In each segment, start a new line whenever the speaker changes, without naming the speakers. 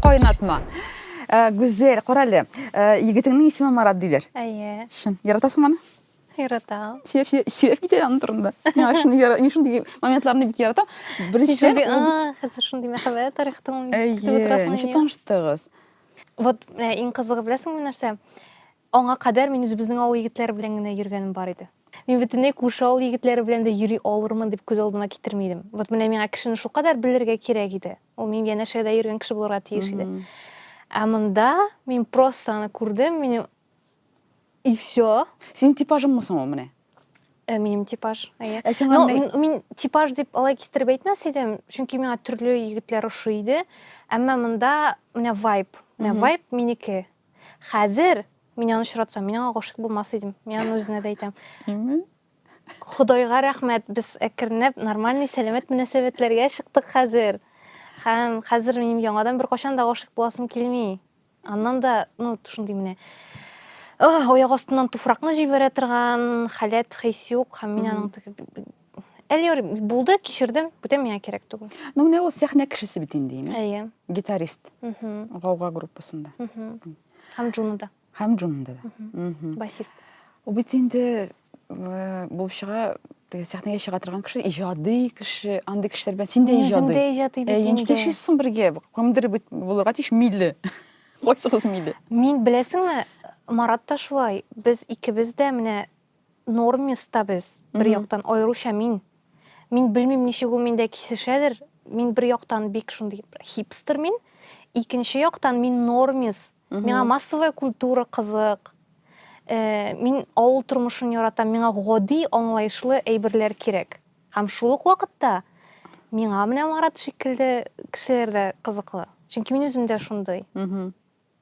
Кайнатма. Э, Гүзәл, кара әле. Э, Егетеңнең исеме Марат диләр. Әйе. Чын.
Яратасың аны?
Яратам.
Сөйләп, сөйләп, сөйләп китә
аның турында. Миңа шуны яра- мин шундый моментларны бик яратам. Син Беренчедән, шундый, ул- «А, хәзер шундый
мәхәббәт тарихтың әйтеп Әйе, утырасың ничек инде».
таныштыгыз? Вот
э, иң кызыгы беләсеңме нәрсә? Аңа кадәр мин үзебезнең авыл егетләре белән генә йөргәнем бар иде. Мин бөтенләй күрше авыл егетләре белән дә йөри алырмын дип күз алдыма китерми идем. Вот менә миңа кешене шулкадәр белергә кирәк иде. Ул минем янәшәдә йөргән кеше булырга тиеш иде. Ә монда мин просто аны күрдем, минем и все. Синең типажыңмы
соң ул менә? Э, минем
типаж, әйе. Ә сиңа Но, мин,
мин типаж дип
алай кистереп әйтмәс идем, чөнки миңа төрле егетләр ошый иде. Әмма монда менә вайб, менә вайб минеке. Хәзер мин аны очратсам, мин аңа гашыйк булмас идем. Мин аны үзенә дә әйтәм. Худайга рәхмәт, без әкренләп нормальный сәламәт мөнәсәбәтләргә чыктык хәзер. Һәм хәзер минем яңадан бер кашан да гашык буласым килми. Аннан да, ну, шундый менә аяк астыннан туфракны җибәрә торган халәт, хис юк. Һәм мин аның Әллер булды, кичердем, бүтән миңа кирәк түгел. Ну, менә ул сәхнә
кешесе бит инде, имя. Әйе. Гитарист. Угу. Гауга группасында. Угу. Һәм
Джунада. Һәм Джунада. Угу.
Басист.
Ул бит инде
э, булып чыга, теге сәхнәгә чыга торган кеше, иҗади кеше, андый кешеләр белән син дә иҗади. Үзем дә иҗади бит э, инде. Ничек
яшисең бергә?
Кемдер бит булырга тиеш милли. Кайсыгыз милли? Мин беләсеңме,
Марат та шулай. Без икебез дә менә нормиста без, бер Мгм. яктан, аеруча мин. Мин белмим, ничек ул миндә кисешәдер. Мин бер яктан бик шундый бер хипстер мин, икенче яктан мин нормис. Мгм. Миңа массовая культура кызык. Э, Мин авыл тормышын яратам, миңа гади, аңлаешлы әйберләр кирәк. Һәм шул ук вакытта миңа менә Марат шикелле кешеләр дә кызыклы. Чөнки мин үзем дә шундый. Мгм.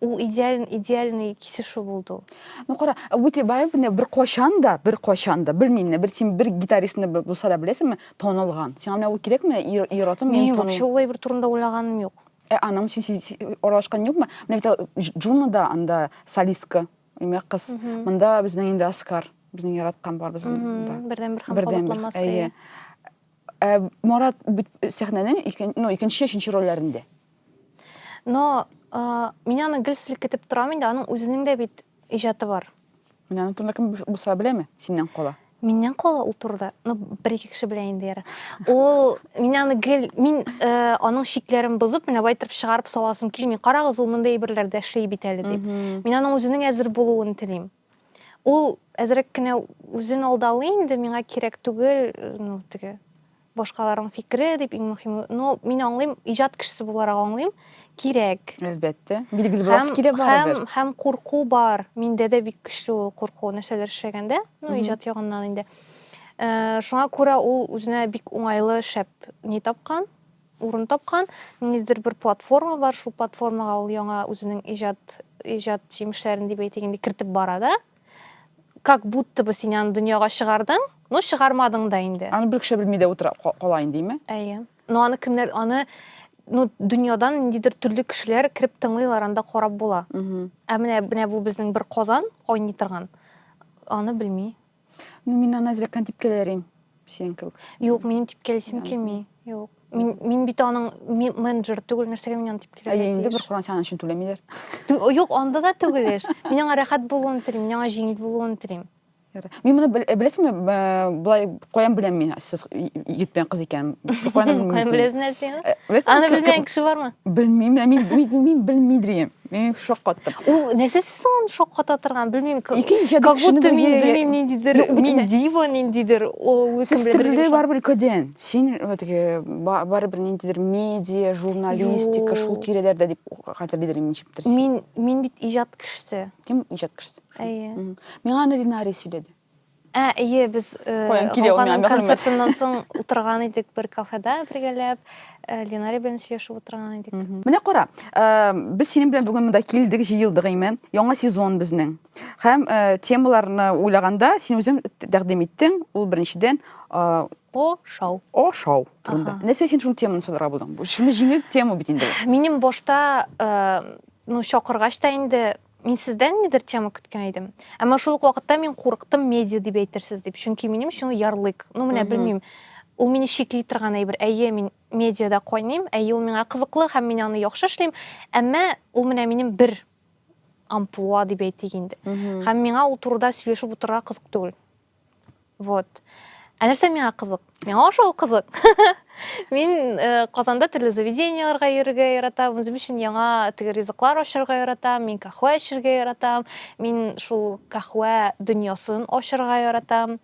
ул идеаль идеальный кисешу булды ул ну кара үте
барып менә бер кайчан да бер кайчан да белмим менә бер син бер гитаристны булса да беләсеңме танылган сиңа менә ул кирәкме ир ир атым мин танылган вообще улай бер
турында уйлаганым юк ә аның өчен син
аралашкан юкмы менә бит джуна да анда солистка имя кыз монда безнең инде оскар безнең яраткан барыбыз монда бердән бер һәм бердән бер
әйе Ә
Марат бит сәхнәнең икен, ну, икенче, өченче рольләрендә.
Но а, мин аны гел селкетеп торам инде, аның үзенең дә бит иҗаты бар. Менә аны турында кем
булса беләме? Синнән кала. Миннән кала ул
турыда, ну, бер ике кеше белә инде яра. Ул мин аны гел мин э, аның шикләрен бозып, менә бай итеп чыгарып саласым килми. Карагыз, ул мондый әйберләр дә эшли бит әле дип. Мин аның үзенең әзер булуын телим. Ул әзрәк кенә үзен алдалый инде, миңа кирәк түгел, ну, теге башкаларның фикере дип иң мөһиме. Но мин аңлыйм, иҗат кешесе буларак аңлыйм, кирәк. Әлбәттә. Билгеле
буласы килә барыбер. Һәм, һәм курку бар.
Миндә дә бик көчле ул курку, нәрсәләр эшләгәндә, ну, иҗат ягыннан инде. Э, шуңа күрә ул үзенә бик уңайлы шәп ни тапкан, урын тапкан. Ниндидер бер платформа бар, шул платформага ул яңа үзенең иҗат, иҗат җимешләрен дип әйтик инде, кертеп бара да. Как будто бы син аны дөньяга чыгардың, но чыгармадың да инде. Аны бер кеше белми дә утыра
кала инде, име? Әйе. Но аны
кемнәр, аны ну, дөньядан ниндидер төрле кешеләр кереп тыңлыйлар, анда карап була. Ә менә менә бу безнең бер Казан кайный торган. Аны белми. Ну, мин аны
әзрәккән типкәләрим, синең кебек. Юк, минем типкәлисем
килми. Юк. Мин, мин бит аның менеджер түгел, нәрсәгә мин аны типкәләргә тиеш? Ә инде бер Коран сәгән өчен
түләмиләр. Юк, анда
да түгел эш. Мин аңа рәхәт булуын телим, мин аңа җиңел булуын телим. Мин моны
беләсеңме, былай каян беләм мин, сез егет белән кыз икән. Каян беләсең
нәрсәне? Аны белмәгән кеше бармы? Белмим, мин
мин белмидрием. Мин шок каттым. Ул нәрсә соң
шакката торган белмим как будто мин белмим ниндидер мин дива ниндидер сез төрле барыбер өлкәдән
син теге барыбер ниндидер медиа журналистика шул тирәләрдә дип хәтерлидер ничектер мин мин бит иҗат
кешесе кем иҗат кешесе
әйе миңа
аны линарий
сөйләде Ә, әйе,
без Гауганың концертыннан соң утырган идек бер кафеда бергәләп, Ленария белән сөйләшеп утырган идек. Менә кара,
без синең белән бүген монда килдек, җыелдык име? Яңа сезон безнең. Һәм темаларны уйлаганда, син үзең тәкъдим иттең, ул беренчедән Ошау.
Ошау
турында. Нәрсә син шул теманы сайларга булдың? Шуны җиңел тема бит инде. Минем башта
ну чакыргач та инде Мин сездән нидер тема көткән идем. Әмма шул ук вакытта мин курыктым медиа дип әйтерсез дип. Чөнки минем өчен ул ярлык. Ну менә белмим. Ул мине чикли торган әйбер. Әйе, мин медиада кайныйм, әйе ул миңа кызыклы һәм мин аны яхшы эшлим. Әмма ул менә минем бер амплуа дип әйтик инде. Һәм миңа ул турыда сөйләшеп утырырга кызык түгел. вот ә нәрсә миңа кызык миңа ошау кызык мин э, казанда төрле заведенияларга йөрергә яратам үзем өчен яңа теге ризыклар ачарга яратам мин кахуә эчәргә яратам мин шул кахуә дөньясын ачарга яратам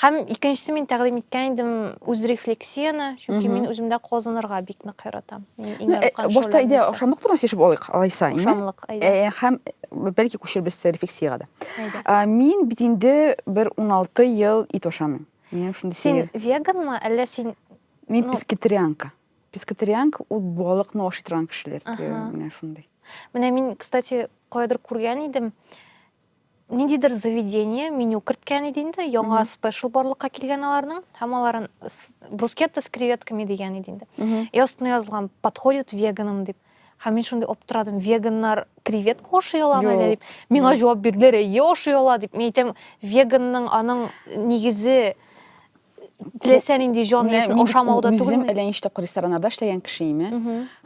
һәм икенчесе мин тәкъдим иткән идем үз рефлексияне чөнки мин үземдә казынырга бик нык яратам башта әйдә
охшамлык турында сөйләшеп алыйк алайса охшамлык әйдә
һәм бәлки
күчербез рефлексиягә дә мин бит инде бер уналты ел ит ашамыйм миңа шундый син веганмы
әллә син мин пескетарианка
пескетарианка ул балыкны ашый торган кешеләр менә шундый менә мин
кстати каядыр күргән идем ниндидер заведение меню керткән иде инде яңа спешл барлыкка килгән аларның һәм аларын брускетта с креветками дигән иде инде и астына язылган подходит веганам дип һәм мин шундый аптырадым веганнар креветка ашый аламы әллә дип миңа җавап бирделәр әйе ашый ала дип мин әйтәм веганның аның нигезе теләсә нинди җан иясен ашамауда түгел үзем әллә ничек рестораннарда
эшләгән кеше име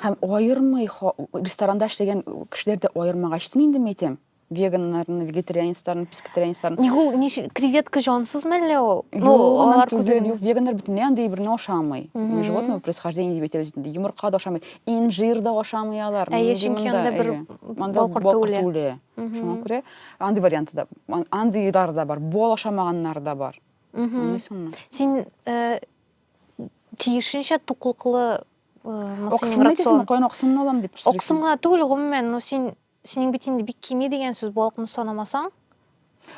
һәм аермый ресторанда эшләгән кешеләр дә аермагач инде мин әйтәм веганнарны, вегетарианецларны, пескетарианецларны. Ник ул ничек креветка
җансыз мәллә ул? Ну, алар түгел,
юк, веганнар бөтенләй андый берне ашамый. Животного происхождения дип әйтәбез инде. Йомырка да ашамый, инжир да ашамый алар. Әйе, чөнки анда бер
балкорт түле. Шуңа күрә
андый варианты да, андыйлар да бар, бал ашамаганнар да бар. Аңлыйсыңмы?
Син э, тиешенчә туклыклы э, Оксымны
дисең, каян оксымны алам дип сорыйсың. Оксымга түгел, гомумән,
ну син Синең бит инде бик кими дигән сүз, балыкны санамасаң.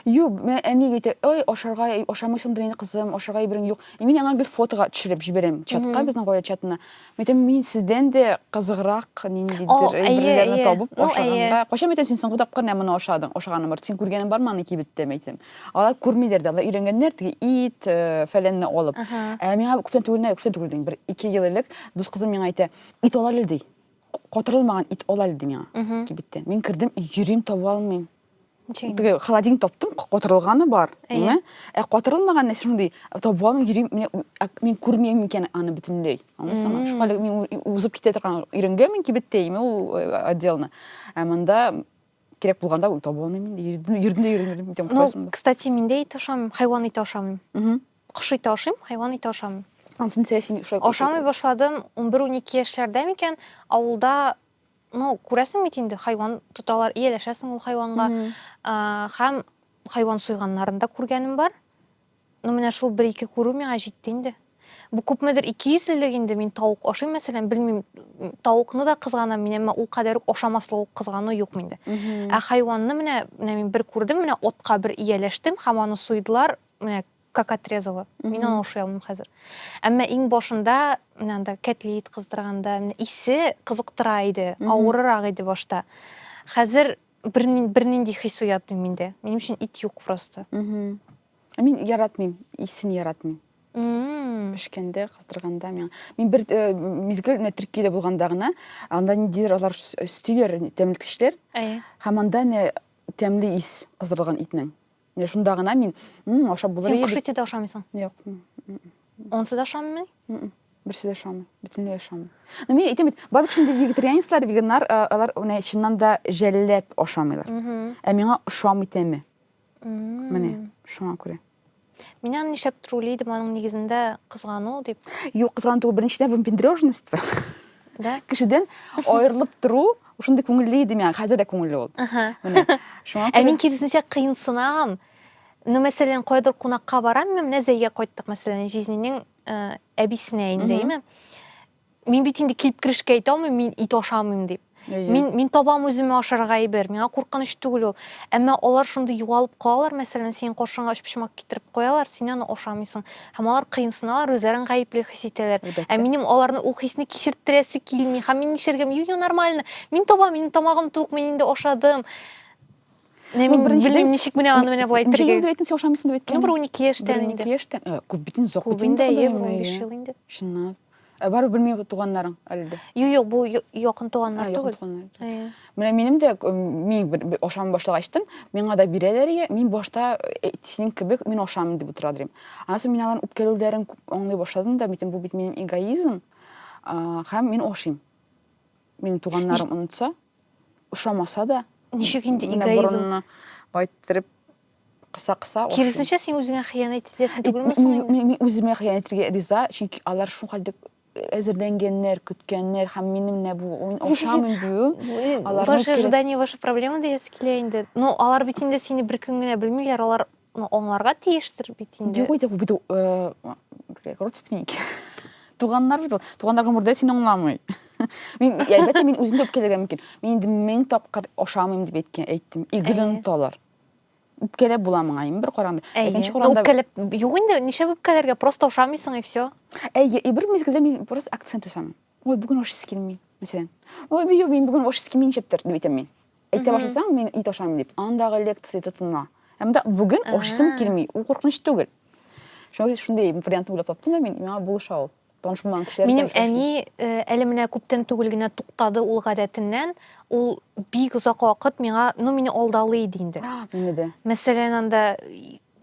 Юк,
менә әни әйтә, ой, ашарга ашамыйсыңдыр инде, кызым, ашарга әйберең юк. И мин аңа гел фотога төшереп җибәрәм чатка, безнең гаилә чатына. Мәйтәм, мин сездән дә кызыграк ниндидер әйберләрне табып ашаганга. Кайчан мәйтәм син соңгы тапкыр менә моны ашадың, ашаганың бар. Син күргәнең бармы аны кибеттә мәйтәм. Алар күрмиләр дә, алар өйрәнгәннәр теге ит, фәләнне алып. Ә миңа күптән түгел, күптән түгел дим, бер ике ел элек дус кызым миңа әйтә, ит алале ди. Котырылмаган ит ал әле ди миңа кибеттә. Мин кердем, йөрим, таба алмыйм. Теге холодин таптым, котырылганы бар, әйме? Ә котырылмаган нәрсә шундый, таба алмыйм, йөрим, мин күрмим икән аны бөтенләй. Аңлыйсыңмы? Шуңа әле мин узып китә торган өйрәнгәнмен кибеттә, әйме, ул э, отделны. Ә монда кирәк булганда таба алмыйм инде. Йөрдем, йөрдем, йөрдем. Ну, кстати,
мин дә ит ашамыйм, хайван ите ашамыйм. Кош ите ашыйм, хайван ите ашамыйм. Ансын сәя син ошак.
Ашамый башладым
11-12 яшьләрдә микән, авылда ну, күрәсең бит инде, хайван тоталар, ияләшәсең ул хайванга. Һәм хайван суйганнарын да күргәнем бар. Ну, менә шул бер-ике күрү миңа җитте инде. Бу күпмедер 200 еллык инде мин тавык ашыйм, мәсәлән, белмим, тавыкны да кызганам мин, әмма ул кадәр үк ашамаслык ук кызгану юк миндә. Ә хайванны менә, менә мин бер күрдем, менә отка бер ияләштем һәм аны суйдылар, менә как отрезала мин аны ашый алмыйм хәзер әмма иң башында менә анда кәтлит кыздырганда менә исе кызыктыра иде авырырак иде башта хәзер бернинди хис уятмый миндә минем өчен ит юк просто
ә мин яратмыйм исен яратмыйм пешкәндә кыздырганда миңа мин бер э, мизгел менә төркиядә булганда гына анда ниндидер алар өстиләр тәмлеткечләр һәм анда тәмле ис кыздырылган итнең Менә шунда гына мин, «М, ашап булыр Син иде бит». кушите дә ашамыйсың.
Юк. м, м, Онсы да ашамый. м, м. Берсе дә
ашамый. Бөтенләй ашамый. Но мин әйтәм бит, барлык шундый вегетарианецлар, веганнар, а, алар менә чыннан да жәлләп ашамыйлар. Мгм. Ә миңа ошамый тәме. М. Менә шуңа күрә. Мин аны нишләп
трули идем, аның нигезендә кызгану дип. Юк, кызган түгел, беренчедән
выпендрежность. Да?
Кешедән
аерылып тору, Ул шундый күңелле иде миңа, хәзер дә күңелле ул. Менә. Шуңа Ә мин киресенчә кыенсынам.
Ну, мәсәлән, кайдыр кунакка барам, мин менә Зәйгә кайттык, мәсәлән, җизнинең э, әбисенә инде, име? Мин бит инде килеп керешкә әйтә алмыйм, мин ит ашамыйм дип. Мин мин табам үземә ашарга әйбер, миңа куркыныч түгел ул. Әмма алар шундый югалып калалар, мәсәлән, синең каршыңа өчпочмак китереп куялар, син аны ашамыйсың. һәм алар кыенсыналар, үзләрен гаепле хис итәләр. Ә минем аларны ул хисне кичерттерәсе килми. Һәм мин нишләргә? Юк, юк, нормально. Мин табам, минем тамагым тук, мин инде ашадым. Менә мин белмим, ничек менә аны менә болай итәргә. Ничек әйтсәң, ашамыйсың дип әйткән.
Ну, бер 12 яшьтән
инде.
12
яшьтән.
Күп
бит инде, озак
бит
инде. Күп инде,
15 ел инде.
Чынлап.
Ә барып белми туганнарың әле дә. Юк, юк, бу
якын туганнар түгел. Якын туганнар. Менә минем
дә мин бер ашам башлык ачтым, миңа да бирәләр ия, мин башта э, синең кебек мин ашамын дип утыра дим. Аннан мин аларның үпкәләүләрен аңлый башладым да, битем бу бит минем эгоизм, һәм мин ашыйм. Минем туганнарым онытса, ошамаса да. Ничек инде
эгоизм? Менә борынны байттырып
кыса кыса киресенчә син үзеңә
хыянәт итәсең түгелме соң мин үземә хыянәт
итәргә риза чөнки алар шулкадәр әзерләнгәннәр көткәннәр һәм минем менә бу охшамый бию ваше
ожидание ваша проблема диясе килә инде ну алар бит инде сине бер көн генә белмиләр алар ну аңларга тиештер бит инде юк инде
бит э, родственники туганнар бит ул туганнар гомердә сине аңламый мин әлбәттә мин үзем дә үпкәләргә мөмкин мин инде мең тапкыр ашамыйм дип әйткән әйттем и гөнаһ алар үпкәләп була моңа инде бер караганда Әйе. икенче караганда үпкәләп
юк инде ничә үпкәләргә просто ошамыйсың и все әйе и бер мизгелдә
мин просто акцент ясамын ой бүген ашыйсы килми мәсәлән ой бию мин бүген ашыйсы килми ничектер дип әйтәм мин әйтә башласаң мин ит ашамыйм дип андагы лекция тотына ә монда бүген ашыйсым килми ул куркыныч түгел шуңа күрә шундый вариантны уйлап таптым да мин миңа булыша ул Таныш булмаган кешеләр Минем әни
э, әле менә күптән түгел генә туктады ул гадәтеннән. Ул бик озак вакыт миңа, ну мине алдалый иде инде. Мине дә. Мәсәлән,
анда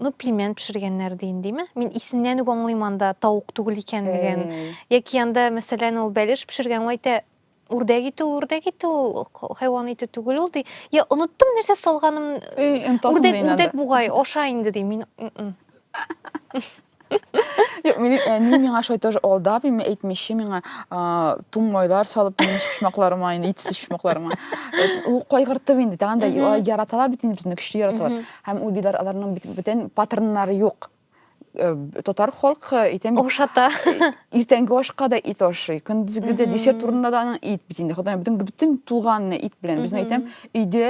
ну пельмен пешергәннәр дин димме? Мин исеннән үк аңлыйм анда тавык түгел икәнлеген. Яки анда мәсәлән ул бәлеш пешергән, ул әйтә, Үрдәк ите ул, үрдәк ите ул, хайван ите түгел ул, ди. Я, оныттым нәрсә салганым. Үрдәк, үрдәк бугай, аша инде, ди. Мин...
Юк, мин әни миңа шулай тоже алдап, мин әйтмичә миңа тун майлар салып, минем шушмакларыма, инде итсез шушмакларыма. Ул кайгыртып инде, тагын да яраталар бит инде безне, көчле яраталар. Һәм ул билар аларның бөтен паттерннары юк. Э, татар халкы әйтәм бит ашата
иртәнге ашка
да ит ашый көндезге дә десерт урынында да аның ит бит инде ходай бөтен бөтен тулганны ит белән безне әйтәм өйдә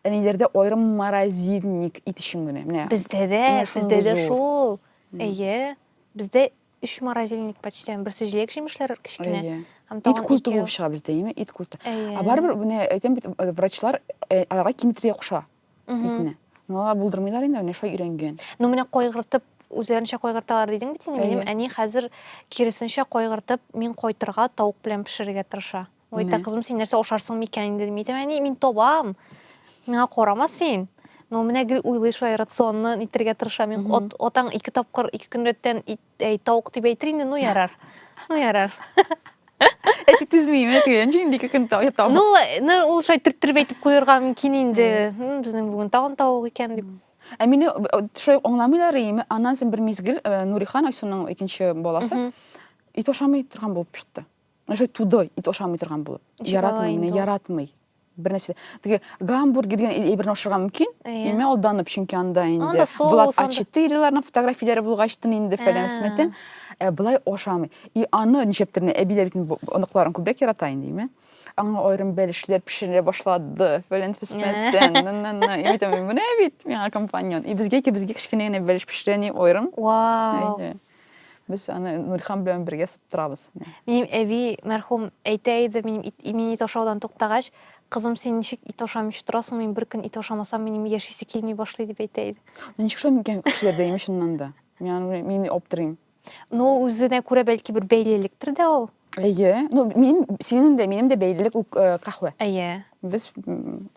әниләрдә аерым морозильник ит өчен генә менә бездә дә бездә
дә шул әйе бездә өч морозильник почти берсе җиләк җимешләр кечкенә һәм ит культы булып
чыга бездә әйеме ит культы ә барыбер менә әйтәм бит э, врачлар э, аларга киметрия куша итне но алар булдырмыйлар инде менә шулай өйрәнгән но менә кайгыртып
үзләренчә кайгырталар дидең бит инде минем әни хәзер киресенчә кайгыртып мин кайтырга тавык белән пешерергә тырыша ул әйтә кызым син нәрсә ашарсың микән инде дим әйтәм әни мин табам миңа карама син но менә гел уйлый шулай рационны нитергә тырыша мин атаң ике тапкыр ике көн рәттән ит әй, тавык дип әйтер инде, ну ярар. Ну ярар.
Әти түзмим, әти, ничек инде ике көн тавык. Ну, ну ул
шулай төрттереп әйтеп куярга мөмкин инде. Безнең бүген тагын тавык икән дип. Ә мине
шулай аңламыйлар име? Аннан соң бер мизгел Нурихан Айсуның икенче баласы ит ашамый торган булып чыкты. Уже тудой, ит ашамый торган булып. Яратмый, менә яратмый. Бер нәрсә. Теге гамбургер дигән әйберне ашарга мөмкин. Имә алданып, чөнки анда инде Влад А4-ларның фотографияләре булгач тын инде фәлән смәтен. Ә былай ашамый. И аны ничәптер менә әбиләр бит оныкларын күбрәк ярата инде, имә. Аңа аерым бәлешләр пешерә башлады. Фәлән фисмәттән. Менә бит миңа компаньон. И безгә ки безгә кечкенә генә бәлеш пешерә ни аерым. Вау.
Без
аны Нурхан белән бергә сыптырабыз. Минем әби
мәрхүм әйтә иде, минем ит, мин ит ашаудан туктагач, кызым, син ничек ит ашамыйча торасың, мин бер көн ит ашамасам, минем яшисе килми башлый дип әйтә иде. Ничек шул микән
кешеләрдә имеш шуннан да? Мин мин аптырыйм. Ну, үзенә
күрә бәлки бер бәйлелектер дә ул. Әйе. Ну, мин
синең дә, минем дә бәйлелек ул э, кахвә. Әйе. Без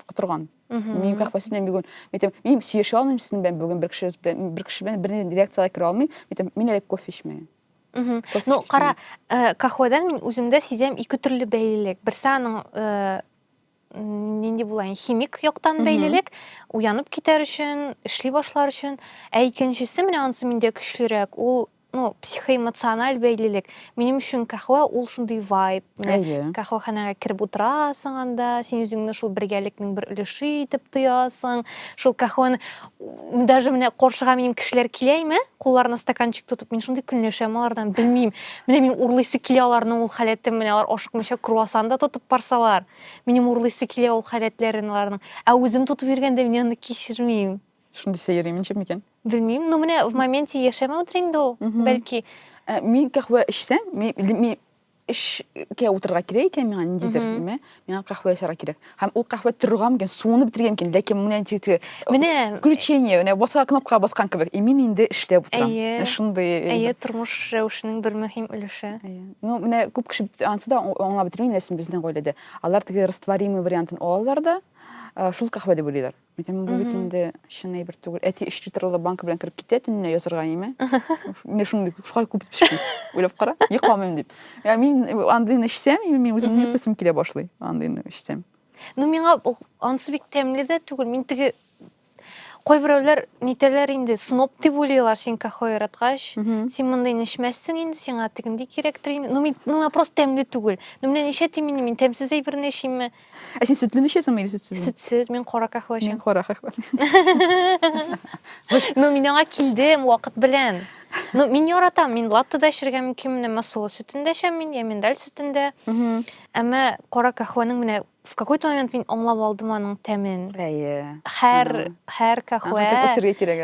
котырган. Мин как бы синен бүген, митем, мин сөйләшә алмыйм синең белән бүген бер кеше белән, бер кеше белән бер лекциягә керә алмыйм, митем, мин әле кофе эчмәгән. Ну,
кара, э, кахвадан мин үземдә сизәм ике төрле бәйлелек. Берсе аның э, нинди булайын, химик яктан бәйлелек, уянып китәр өчен, эшли башлар өчен, ә икенчесе менә анысы миндә көчлерәк, ул ну, психоэмоциональ бәйлелек. Минем өчен кахва ул шундый вайб. Әйе. Кахваханәгә кереп утырасың анда, син үзеңне шул бергәлекнең бер өлеше итеп тоясың. Шул кахваны даже менә каршыга минем кешеләр киләме, кулларына стаканчик тотып, мин шундый көнләшәм алардан, белмим. Менә мин урлыйсы килә аларның ул халәтен, менә алар ашыкмыйча круассан да тотып барсалар. Минем урлыйсы килә ул халәтләрен аларның. Ә үзем тотып йөргәндә мин аны кичермим. Шундый сәер иминче
микән? Белмим, но менә в
моменте яшәмәүдер инде
ул,
бәлки.
Э,
мин
кахва
эчсәм,
мин эшкә утырырга кирәк икән миңа ниндидер ме миңа кахва ясарга кирәк һәм ул кахва торырга мөмкин суны бетергә мөмкин ләкин менә теге менә включение менә басар кнопкага баскан кебек и мин инде эшләп утырам әйе шундый әйе тормыш рәвешенең
бер мөһим өлеше ну менә күп
кеше ансы да аңлап бетерми ләкин безнең гаиләдә алар теге растворимый вариантын алалар да шул кахва дип уйлыйлар Әйтәм, бу бит инде чын әйбер түгел. Әти өч литрлы банка белән кереп китә төнлә язырга име? Менә шундый шулай күп итеп эчми. Уйлап кара, йокламыйм дип. Я мин андыйны эчсәм, мин үземне йоклысым килә башлый. Андыйны эчсәм. Ну миңа
ансы бик тәмле дә түгел. Мин теге кайберәүләр нитәләр инде сноп дип уйлыйлар син кахо яраткач син мондый нешмәссең инде сиңа тегендей кирәктер инде ну мин миңа просто тәмле түгел ну менә ничә тимени мин тәмсез әйберне эчимме Ә син сөтле ничәсеңме
или сөтсез? Сөтсез, мин кара кахва
эчәм. Мин кара кахва. Ну, мин аңа килдем вакыт белән. Ну, мин яратам, мин латте да эчәргә мөмкин, менә масылы сөтендә эчәм мин, я миндаль сөтендә. Әмма кара кахваның менә в какой-то момент мин аңлап алдым аның тәмен. Әйе. Һәр һәр кахва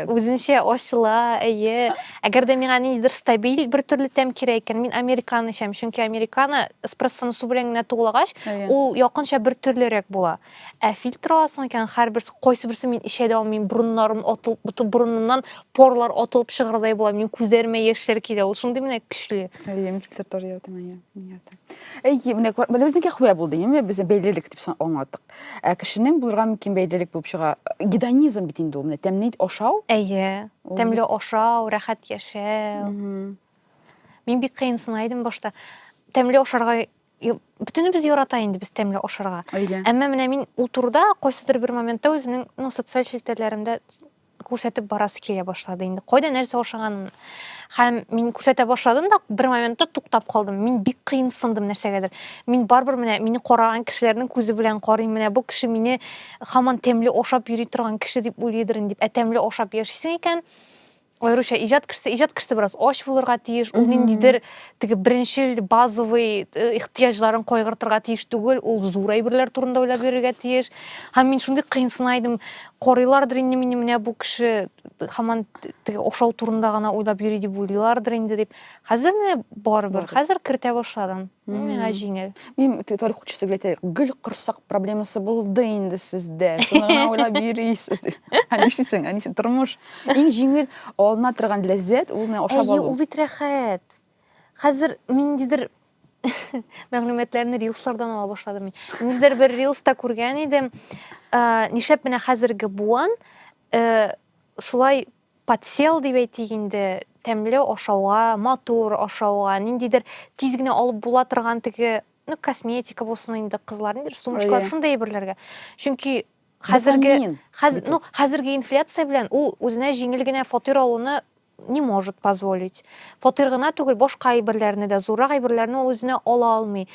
үзенчә ачыла, әйе. Әгәр дә миңа ниндидер стабиль бер төрле тәм кирәк икән, мин американо эчәм, чөнки американо эспрессоны су белән генә туглагач, ул якынча бер төрлерәк була. Ә фильтр аласың икән, һәрберсе, кайсыберсен мин эчә дә алмыйм, борыннарым атылып, бөтен борынымнан порлар атылып чыгардай була, минем күзләремә яшьләр килә, ул шундый менә көчле. Әйе, мин фильтр тоже
яратам, әйе, мин яратам. Әйе, менә күр- менә безнеке хвә булды, әйеме? Без бәйлелек дип сан- аңлаттык. Ә кешенең булырга мөмкин бәйлелек булып чыга. Гедонизм бит инде ул, менә тәмле ашау. Әйе, Ул тәмле
ашау, рәхәт яшәү. Мгм. Мин бик кыенсына идем башта. Тәмле ашарга й- бөтенебез ярата инде без тәмле ашарга. Әйе. Әмма менә мин ул турыда кайсыдыр бер моментта үземнең ну, социаль челтәрләремдә күрсәтеп барасы килә башлады инде кайда нәрсә ашаганын һәм мин күрсәтә башладым да бер моментта туктап калдым мин бик кыенсындым нәрсәгәдер мин барыбер менә мине караган кешеләрнең күзе белән карыйм менә бу кеше мине хаман тәмле ашап йөри торган кеше дип уйлыйдыр инде ә тәмле ашап яшисең икән аеруча иҗат кешесе иҗат кешесе бераз ач булырга тиеш ул ниндидер теге беренчел базовый э, ихтыяҗларын кайгыртырга тиеш түгел, ул зур әйберләр турында уйлап йөрергә тиеш. Һәм мин шундый кыенсына идем, карыйлардыр инде мине менә бу кеше һаман теге ошау турында гына уйлап йөри дип уйлыйлардыр инде дип. Хәзер менә барыбер, хәзер кертә башладым. Миңа җиңел. Мин тарих учысы
гел гөл корсак проблемасы булды инде сездә. Шуны гына уйлап йөрисез. Ә нишлисең, ә нишлисең, тормыш. Иң җиңел алына торган ләззәт ул менә ашап алу. Әйе, ул бит рәхәт.
Хәзер ниндидер мәгълүматларны рилслардан ала башладым мин. Ниндидер бер рилста күргән идем. Э, нишләп менә хәзерге буан э, шулай подсел дип әйтик инде, тәмле ашауга, матур ашауга, ниндидер тиз генә алып була торган теге, ну, косметика булсын инде, кызлар, ниндидер сумочкалар, шундый әйберләргә. Чөнки Хәзерге хәз, ну, хәзерге инфляция белән ул үзенә җиңел генә фатир алуны не может позволить. Фатир гына түгел, башка әйберләрне дә, зуррак әйберләрне ул үзенә ала алмый.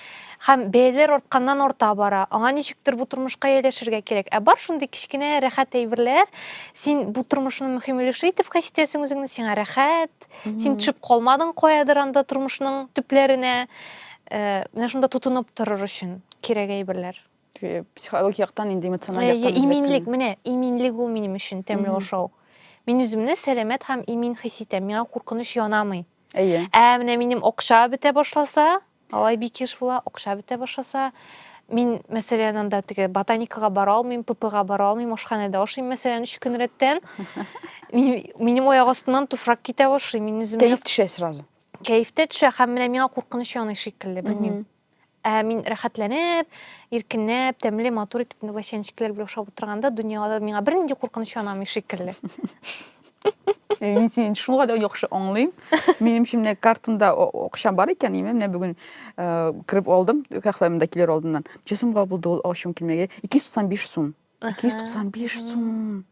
Һәм бәяләр артканнан арта бара. Аңа ничектер бу тормышка ияләшергә кирәк. Ә бар шундый кечкенә рәхәт әйберләр. Син бу тормышның мөһим өлеше итеп хис итәсең үзеңне, сиңа рәхәт. Син төшеп калмадың каядыр анда тормышның төпләренә. Э, менә шунда тотынып торыр өчен кирәк әйберләр. Э, психологик
яктан инде эмоциональ э, яктан иминлек менә иминлек
ул минем өчен тәмле ашау мин үземне сәламәт һәм имин хис итәм миңа куркыныч янамый әйе ә менә минем акча бетә башласа алай бик еш була акча бетә башласа мин мәсәлән анда теге ботаникага бара алмыйм ппга бара алмыйм ашханәдә ашыйм мәсәлән өч көн рәттән минем аяк астымнан туфрак китә башлый мин үземне кәеф төшә сразу
кәеф тә төшә
һәм менә миңа куркыныч яный шикелле белмим Ә мин рәхәтләнеп, иркенләп, тәмле, матур итеп вәчәнчекләр белән ашап утырганда дөньяда миңа бернинди куркыныч янамый шикелле.
Мин сине шул кадәр яхшы аңлыйм. Минем шимне картында акча бар икән, имә менә бүген кирип алдым, кафемда килер алдыннан. Чесымга булды ул акчам килмәгән. 295 сум. 295 сум.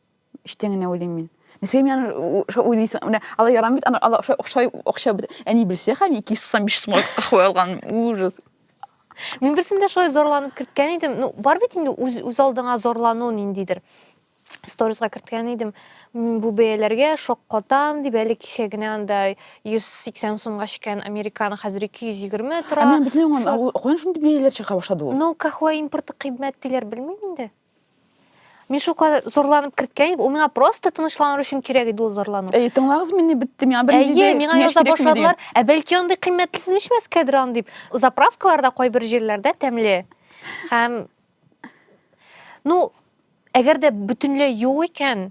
Эчтән генә уйлыйм мин. Нәрсәгә мин аны шулай уйлыйсың? Менә алар ярамый бит, алар шулай акча, акча бит. Әни белсә, хәм 295 сумга кахве алган. Ужас. Мин
берсендә шулай зарланып керткән идем. Ну, бар бит инде үз үз алдыңа зарлану ниндидер. Сторисга керткән идем. Бу бәяләргә шок катам дип әле кичә генә анда 180 сумга чиккән американо хәзер 220 тора. Ә мин бит аңламыйм. Каян
шундый бәяләр чыга
башлады ул?
Ну,
кахве
импорты
кыйбмәт
диләр,
белмим
инде.
Мин шука зарланып керткән идем. Ул миңа просто тынычланыр өчен кирәк иде ул зарлану. Әй, тыңлагыз мине бетте.
Миңа бер Әйе, миңа яза башладылар.
Ә бәлки андый кыйммәтлесен эчмәскәдер ан дип. Заправкаларда кайбер җирләрдә тәмле. Һәм ну, әгәр дә бөтенләй юк икән,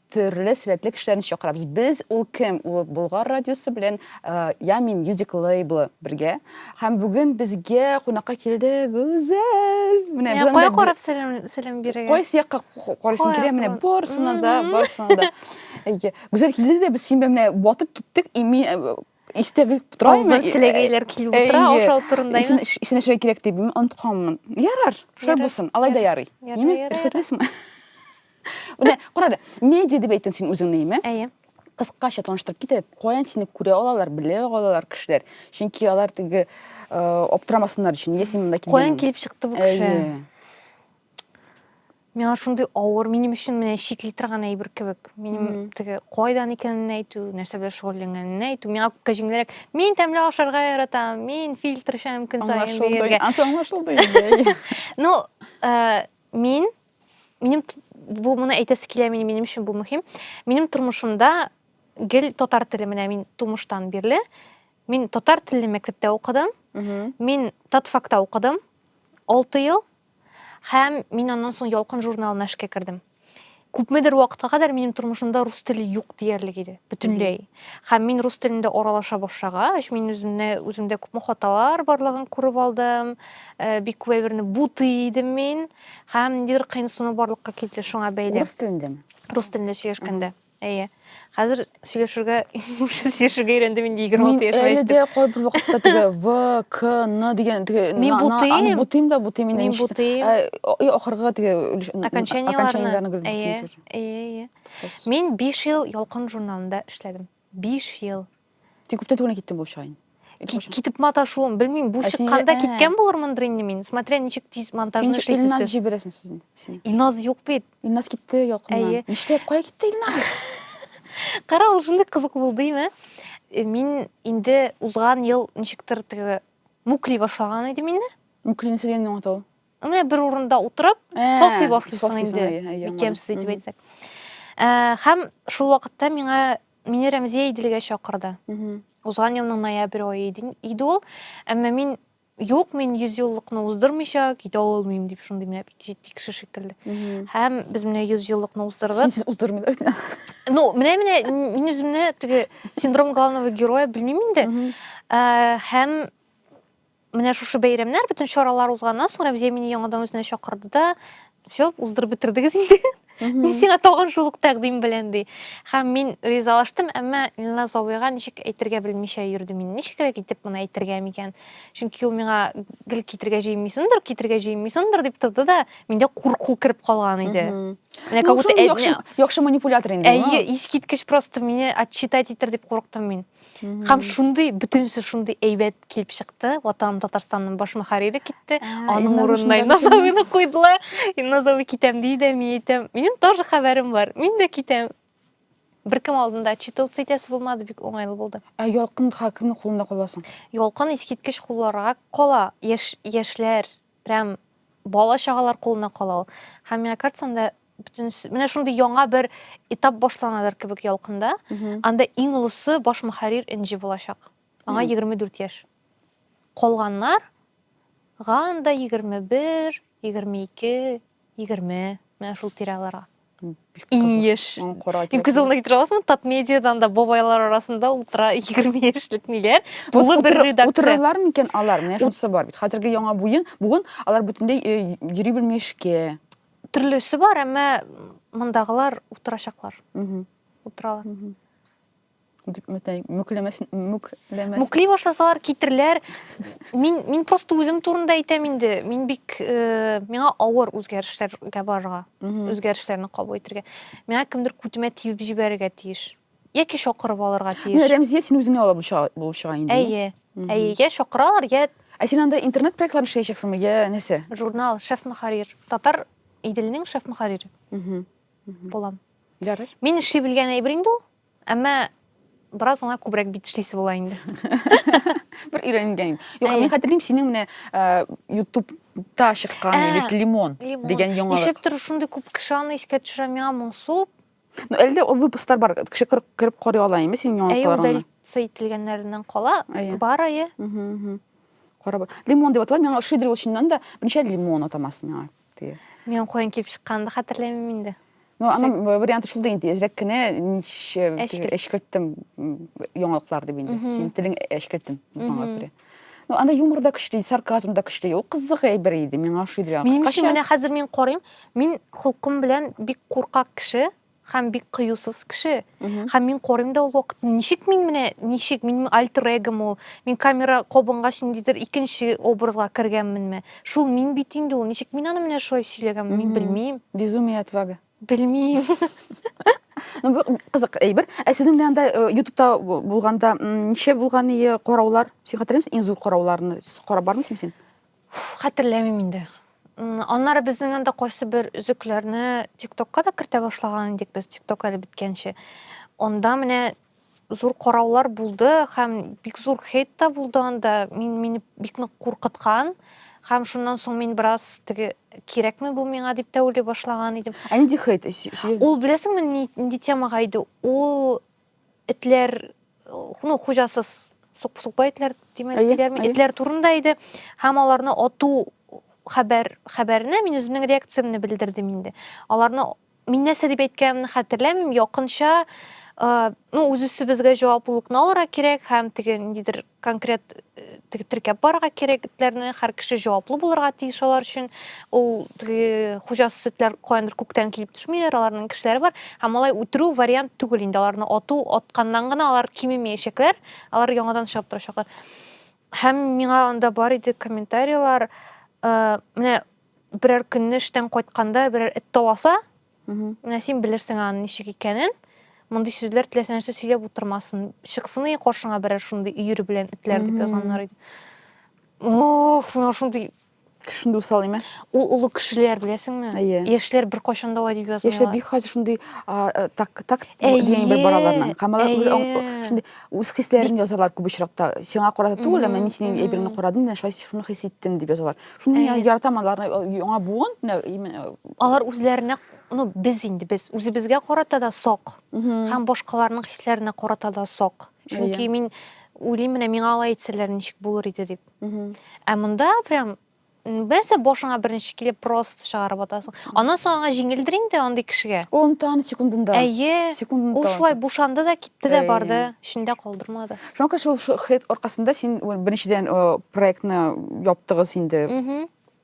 төрле сәләтле кешеләрне чакырабыз. Без ул кем? Ул Болгар радиосы белән Ями Music Label бергә. Һәм бүген безгә кунакка килде Гүзәл. Менә без кая
карап сәлам сәлам бирергә? Кайсы якка
карыйсың килә? Менә барсына да, барсына да. Гүзәл килде дә без син белән менә батып киттек. И мин истә белеп тора Авызына инде.
теләгәйләр килеп Әйе. утыра, аша Исен, утырындаймы? ис- исен эшләргә кирәк дип
мин онытканмын. Ярар, шулай Ярар, булсын. Алай да ярый. Ярар, Ниме? ярар, Рөхсәтлесеңме? Менә, кара әле, медиа дип әйттең син үзеңне, име? Әйе. Кыскача таныштырып кит әле, каян сине күрә алалар, белә алалар кешеләр? Чөнки алар теге э, аптырамасыннар өчен, нигә син монда килгән? Каян килеп чыкты бу кеше? Әйе.
миңа шундый авыр минем өчен менә чикли торган әйбер кебек минем теге кайдан икәнен әйтү нәрсә белән шөгыльләнгәнен әйтү миңа күпкә җиңелрәк мин тәмле ашарга яратам мин фильтр эчәм көн саен дигәнгә аңлашылды инде
ну э,
мин минем бу моны әйтәсе килә минем минем өчен бу мөһим минем тормышымда гел татар теле менә мин тумыштан бирле мин татар телле мәктәптә укыдым мин татфакта укыдым алты ел Һәм мин аннан соң Ялкын журналына эшкә кердем. Күпмедер вакытка кадәр минем тормышымда рус теле юк диярлек иде, бөтенләй. Һәм мин рус телендә аралаша башлагач, мин үземне, үземдә күпме хаталар барлыгын күреп алдым. Э, бик күп әйберне бутый идем мин. Һәм ниндидер кыенсыну барлыкка килде шуңа бәйле. Рус телендәме? Рус
телендә сөйләшкәндә.
Әйе. Хәзер сөйләшергә, уже сөйләшергә өйрәндем инде 26 яшьмә Әле дә кайбер вакытта
теге В, К, Н дигән теге Мин бутыйм. Бутыйм да
бутыйм инде. Мин бутыйм. Э,
ахыргы теге окончаниеләрне. Әйе, әйе,
әйе. Мин 5 ел Ялкын журналында эшләдем. 5 ел. Тик күптән түгел
киттем булып чыга инде. Китеп маташуым,
белмим, бу чыкканда ә. киткән булырмындыр инде мин. Смотря ничек тиз монтажны эшлисез. Син Илназ җибәрәсең сезне.
Илназ юк бит.
Илназ китте
ялкыннан. Нишләп, кая китте Илназ?
Кара, ул шундый кызык булды име? Э, мин инде узган ел ничектер теге мүкли башлаган идем инде. Мүклине сез инде аңлату.
Менә бер урында
утырып, ә, сосый башлыйсың инде. Икемсез итеп әйтсәк. Һәм шул вакытта миңа Мине Рәмзия Иделгә чакырды. Узган елның ноябрь ае иде ул. Әмма мин юк, мин йөз еллыкны уздырмыйча китә алмыйм дип шундый менә бик җитди кеше шикелле. Һәм без менә йөз еллыкны уздырдык. Сез уздырмыйлар микән?
Ну, менә менә
мин үземне теге синдром главного героя белмим инде. Һәм Менә шушы бәйрәмнәр, бөтен чаралар узганнан соң Рәмзия мине яңадан үзенә чакырды да, все, уздырып бетердегез инде. Мин сиңа тагын шул ук тәкъдим белән ди. Һәм мин ризалаштым, әмма Илназ абыйга ничек әйтергә белмичә йөрдем мин. Ничегрәк итеп моны әйтергә микән? Чөнки ул миңа гел китергә җыенмыйсыңдыр, китергә җыенмыйсыңдыр дип торды да, миндә курку кереп калган иде. Менә как будто яхшы манипулятор
инде. Әйе, искиткеч просто
мине отчитать итер дип курыктым мин. Хәм шундый бүтүнсе шундый әйбәт килеп чыкты. Ватаным Татарстанның баш мөхәррире китте. Ә, Аның урынына Назавыны куйдылар. Назавы китәм ди дә, мин әйтәм, минем тоже хәбәрем бар. Мин дә китәм. Беркем алдында отчитываться итәсе булмады, бик уңайлы булды. Ә ялкын хакимның
кулында каласың. Ялкын искиткеч
кулларга кала. Яш, яшьләр, прям бала чагалар кулына кала ул. Һәм миңа картсам да бөтен менә шундый яңа бер этап башланадыр кебек ялкында анда иң олысы баш мөхәррир энҗе булачак аңа егерме дүрт яшь калганнарга анда егерме бер егерме ике егерме менә шул тирәларга иң еш иң күзалына китерә аласыңбы тап медиадан да бабайлар арасында утыра егерме яшьлек ниләр тулы бер редакция утырырлар микән алар
менә шунысы бар бит хәзерге яңа буын алар бөтенләй йөри белми эшкә Төрлесе бар,
әмма мондагылар утырачаклар. Утыралар. Дип мөтәй, мүкләмәш, мүкләмәш. Мүкли башласалар китерләр. Мин, мин просто үзем турында әйтәм инде. Мин бик, э, миңа авыр үзгәрешләргә барырга, үзгәрешләрне кабул итәргә. Миңа кемдер күтемә тибеп җибәрергә тиеш. яки чакырып алырга тиеш. Менә Рәмзия син үзеңә
ала булып чыга инде. Әйе. Әйе, я
чакыралар, я Ә син анда интернет
проектларын эшләячәксеңме, я нәрсә? Журнал Шеф Мөхәррир.
Татар Иделнең шеф мөхәррире. Булам. Ярый.
Мин эшли белгән әйбер
инде ул. Әмма бераз гына күбрәк бит эшлисе була инде.
Бер өйрәнгән. Юк, мин хәтерлим синең менә YouTube та чыккан бит лимон дигән яңалык. Ничектер шундый күп кеше
аны искә төшерә миңа моңсу Ну, әле дә ул
выпусклар бар. Кеше кереп, кереп карый ала инде синең Әйе, яңалыкларыңны. удалиться ителгәннәреннән
кала, Әйе. бар әйе. Мгм, мгм.
Карап. Лимон дип атала, миңа ошыйдыр ул чыннан да. Берничә лимон атамасы миңа. Теге. Мин каян
килеп чыкканын да хәтерләмим инде. Ну, аның б-
варианты шул да инде. Әзрәк кенә ничә Әчкелт. әчкелттем м, яңалыклар дип инде. Мгм. Синең телең әчкелтем булганга Мгм. күрә. Ну, анда юмор да көчле, сарказм да көчле. Ул кызык әйбер иде, миңа ошый иде. Минем өчен менә хәзер мин
карыйм, мин холкым белән бик куркак кеше һәм бик кыюсыз кеше. Һәм мин карыйм да ул вакытта, ничек мин менә, ничек мин альтер эгом ул. Мин камера кабынгач ниндидер икенче образга кергәнменме? Шул мин бит инде ул. Ничек мин аны менә шулай сөйләгәнмен, мин белмим. Безумие отвага.
Белмим. Ну, бу кызык әйбер. Ә сезнең белән дә э, ютубта бу- булганда м, ничә булган ие караулар? Син хәтерләмисең иң зур карауларны? Карап бармыйсыңмы син? Хәтерләмим
инде. М, Аннары безнең анда кайсы бер өзекләрне ТикТокка да кертә башлаган идек без, ТикТок әле беткәнче. Анда менә зур караулар булды һәм бик зур хейт та булды анда мин мине бик нык куркыткан һәм шуннан соң мин бераз теге кирәкме бу миңа дип тә уйлый башлаган идем ә нинди хейт
ул беләсеңме
нинди темага иде ул этләр ну хуҗасыз сукпа итләр диләрме этләр турында иде һәм аларны ату хәбәр хәбәренә мин үземнең реакциямне белдердем инде аларны Мин нәрсә дип әйткәнемне хәтерләмим, якынча ну, үз-үзебезгә җаваплылыкны алырга кирәк һәм теге ниндидер конкрет теге теркәп барырга кирәк этләрне, һәр кеше җаваплы булырга тиеш алар өчен. Ул теге хуҗасыз этләр каяндыр күктән килеп төшмиләр, аларның кешеләре бар. Һәм алай үтерү вариант түгел инде, аларны ату, атканнан гына алар кимемәячәкләр, алар яңадан чыгып торачаклар. Һәм миңа анда бар иде комментарийлар, менә Берәр көнне эштән кайтканда берәр эт таласа, менә син белерсең аның ничек икәнен. Мондый сүзләр теләсә нәрсә сөйләп утырмасын. Чыксын и каршыңа берәр шундый өер белән этләр дип язганнар иде. Ох, менә шундый Шундый усал
име? Ул олы кешеләр,
беләсеңме? Әйе. Яшьләр беркайчан да алай дип язмыйлар. Яшьләр бик хәзер шундый
так так дигән бер бараларның. Һәм алар шундый үз хисләрен язалар күп очракта. Сиңа карата түгел, әмма мин синең әйбереңне карадым, менә шулай шуны хис иттем дип язалар. Шуны мин яратам аларны, яңа буын, именно. Алар
үзләренә, ну, без инде, без үзебезгә карата да сак, һәм башкаларның хисләренә карата да сак. Чөнки мин уйлыйм, менә миңа алай әйтсәләр, ничек булыр иде дип. Ә монда прям Берсе башыңа беренче килеп просто чыгарып атасың. Аннан соң аңа җиңелдер инде андый кешегә. Ул онтаны секундында.
Әйе. Секундында. Ул
шулай бушанды да китте дә барды, эчендә калдырмады. Чөнки шул хит
аркасында син беренчедән проектны яптыгыз инде.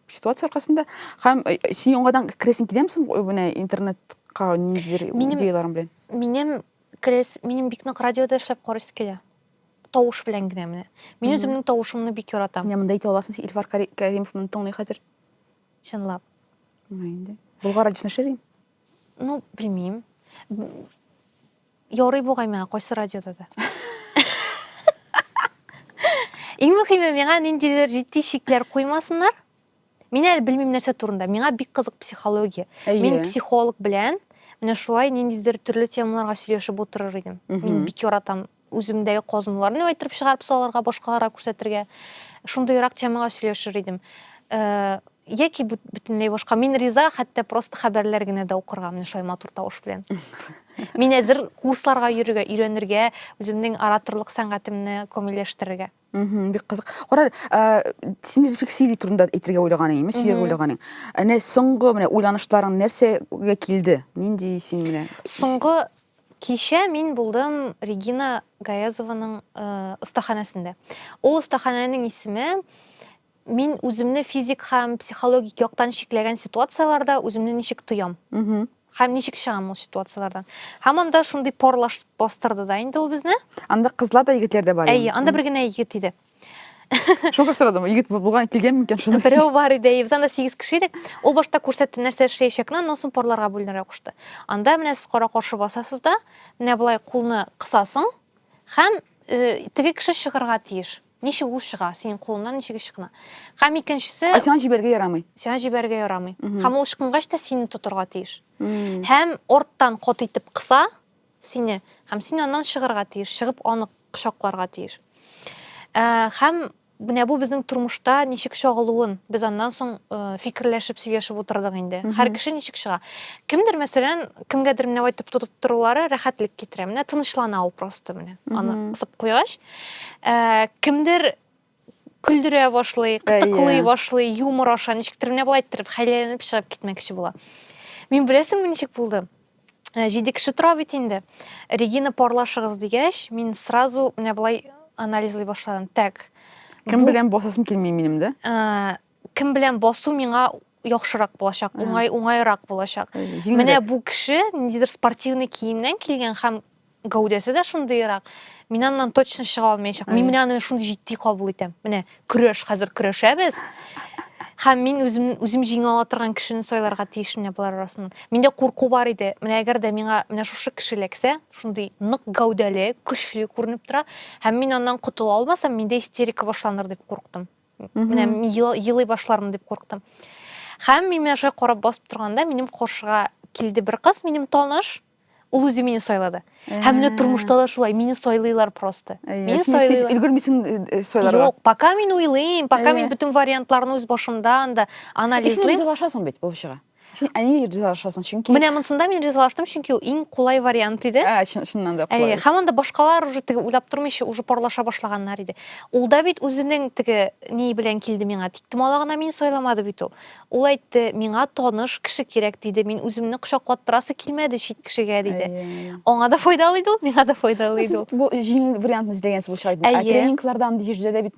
Ситуация аркасында һәм син яңадан керәсең киләме соң менә интернетка ниндидер идеяларың белән? Минем керәс,
минем бик нык радиода эшләп карыйсы килә. Тавыш белән генә менә. Мин үземнең тавышымны бик яратам. Менә монда әйтә аласың, син Илфар
Кәримов моны тыңлый хәзер. Чынлап.
Менә инде.
Болгар радиосында эшләдең? Ну,
белмим. Ярый бугай миңа кайсы радиода да. Иң мөһиме миңа ниндидер җитди шикләр куймасыннар. Мин әле белмим нәрсә турында. Миңа бик кызык психология. Мин психолог белән менә шулай ниндидер төрле темаларга сөйләшеп утырыр идем. Мин бик яратам үземдәге казынуларны әйттереп чыгарып салырга, башкаларга күрсәтергә. Шундыйрак темага сөйләшер идем. Э, Яки бөтенләй башка. Мин риза, хәтта просто хәбәрләр генә дә укырга, менә шулай матур тавыш белән. Мин әзер курсларга йөрергә, өйрәнергә, үземнең ораторлык сәнгатемне камилләштерергә. Бик кызык.
Кара, син рефлексия турында әйтергә уйлаган идең, сөйләргә уйлаган идең. Әнә соңгы менә уйланышларың нәрсәгә килде? Нинди син менә? Соңгы
кичә мин булдым Регина Гаязованың остаханәсендә. Ул остаханәнең исеме Мин үземне физик һәм психологик яктан чикләгән ситуацияләрдә үземне ничек тоям? Һәм ничек чыгам ул ситуацияләрдән? Һәм анда шундый парлаш бастырды
да
инде ул безне. Анда
кызлар да,
егетләр дә
бар. Әйе,
анда бер
генә егет
иде.
Шуңа сорадым, егет булган килгән микән шунда? Берәү бар иде, без анда
сигез кеше идек. Ул башта күрсәтте, нәрсә эшләячәкне, аннан соң парларга бүленергә кушты. Анда менә сез кара каршы басасыз да, менә болай кулны кысасың һәм э, теге кеше чыгарга тиеш. Ничек ул чыга? Синең кулыңнан ничек ычкына? Һәм икенчесе. Ә сиңа җибәрергә ярамый.
Сиңа җибәрергә
ярамый. Һәм ул ычкынгач та сине тотырга тиеш. Һәм арттан каты итеп кыса сине, һәм син аннан чыгарга тиеш, чыгып аны кочакларга тиеш. Э, һәм менә бу безнең тормышта ничек чагылуын без аннан соң э, фикерләшеп сөйләшеп утырдык инде һәр кеше ничек чыга кемдер мәсәлән кемгәдер менә әйтеп тотып торулары рәхәтлек китерә менә тынычлана ул просто менә аны кысып куйгач Ә, кемдер көлдерә башлый, кытыклый башлый, юмор аша, ничектер менә болай иттереп хәйләләнеп чыгып китмәкче була. Мин беләсеңме ничек булды? Ә, җиде кеше тора бит инде. Регина парлашыгыз дигәч, мин сразу менә болай анализлый башладым. Так. Кем белән
босасым килми минем, да? Кем белән
басу миңа яхшырак булачак, уңай уңайрак булачак. Менә бу кеше ниндидер спортивный киемнән килгән һәм гәүдәсе дә шундыйрак. Мин аннан точно чыга алмаячак. Мин менә аны шундый җитди кабул итәм. Менә көрәш хәзер көрәшәбез. Һәм мин үзем үзем җиңә ала торган кешене сайларга тиеш менә болар арасыннан. Миндә курку бар иде. Менә әгәр дә миңа менә шушы кеше эләксә, шундый нык гәүдәле, көчле күренеп тора, һәм мин аннан котыла алмасам, миндә истерика башланыр дип курктым. менә елый башлармын дип курктым һәм мин менә шулай карап басып торганда минем каршыга килде бер кыз минем таныш ул үзе мине сайлады һәм менә тормышта да шулай мине сайлыйлар просто мин сайлыйлар өлгермисең
сайларга юк пока мин уйлыйм
пока мин бөтен вариантларны үз башымда анда анализлыйм син ашасың бит булып
чыга Син әни ризалашасың, чөнки... Менә монсында мин ризалаштым,
чөнки ул иң кулай вариант иде. Ә, чыннан да кулай.
Һәм анда башкалар уже
теге уйлап тормыйча, уже парлаша башлаганнар иде. Ул да бит үзенең теге ни белән килде миңа. Тиктемала гына мин сайламады бит ул. Ул әйтте, миңа таныш кеше кирәк, диде. Мин үземне кочаклаттырасы килмәде чит кешегә, диде. Аңа да файдалы иде ул, миңа да файдалы иде ул. Бу җиңел
вариантны эзләгәнсез булачак. Ә тренингларда андый җирдә дә бит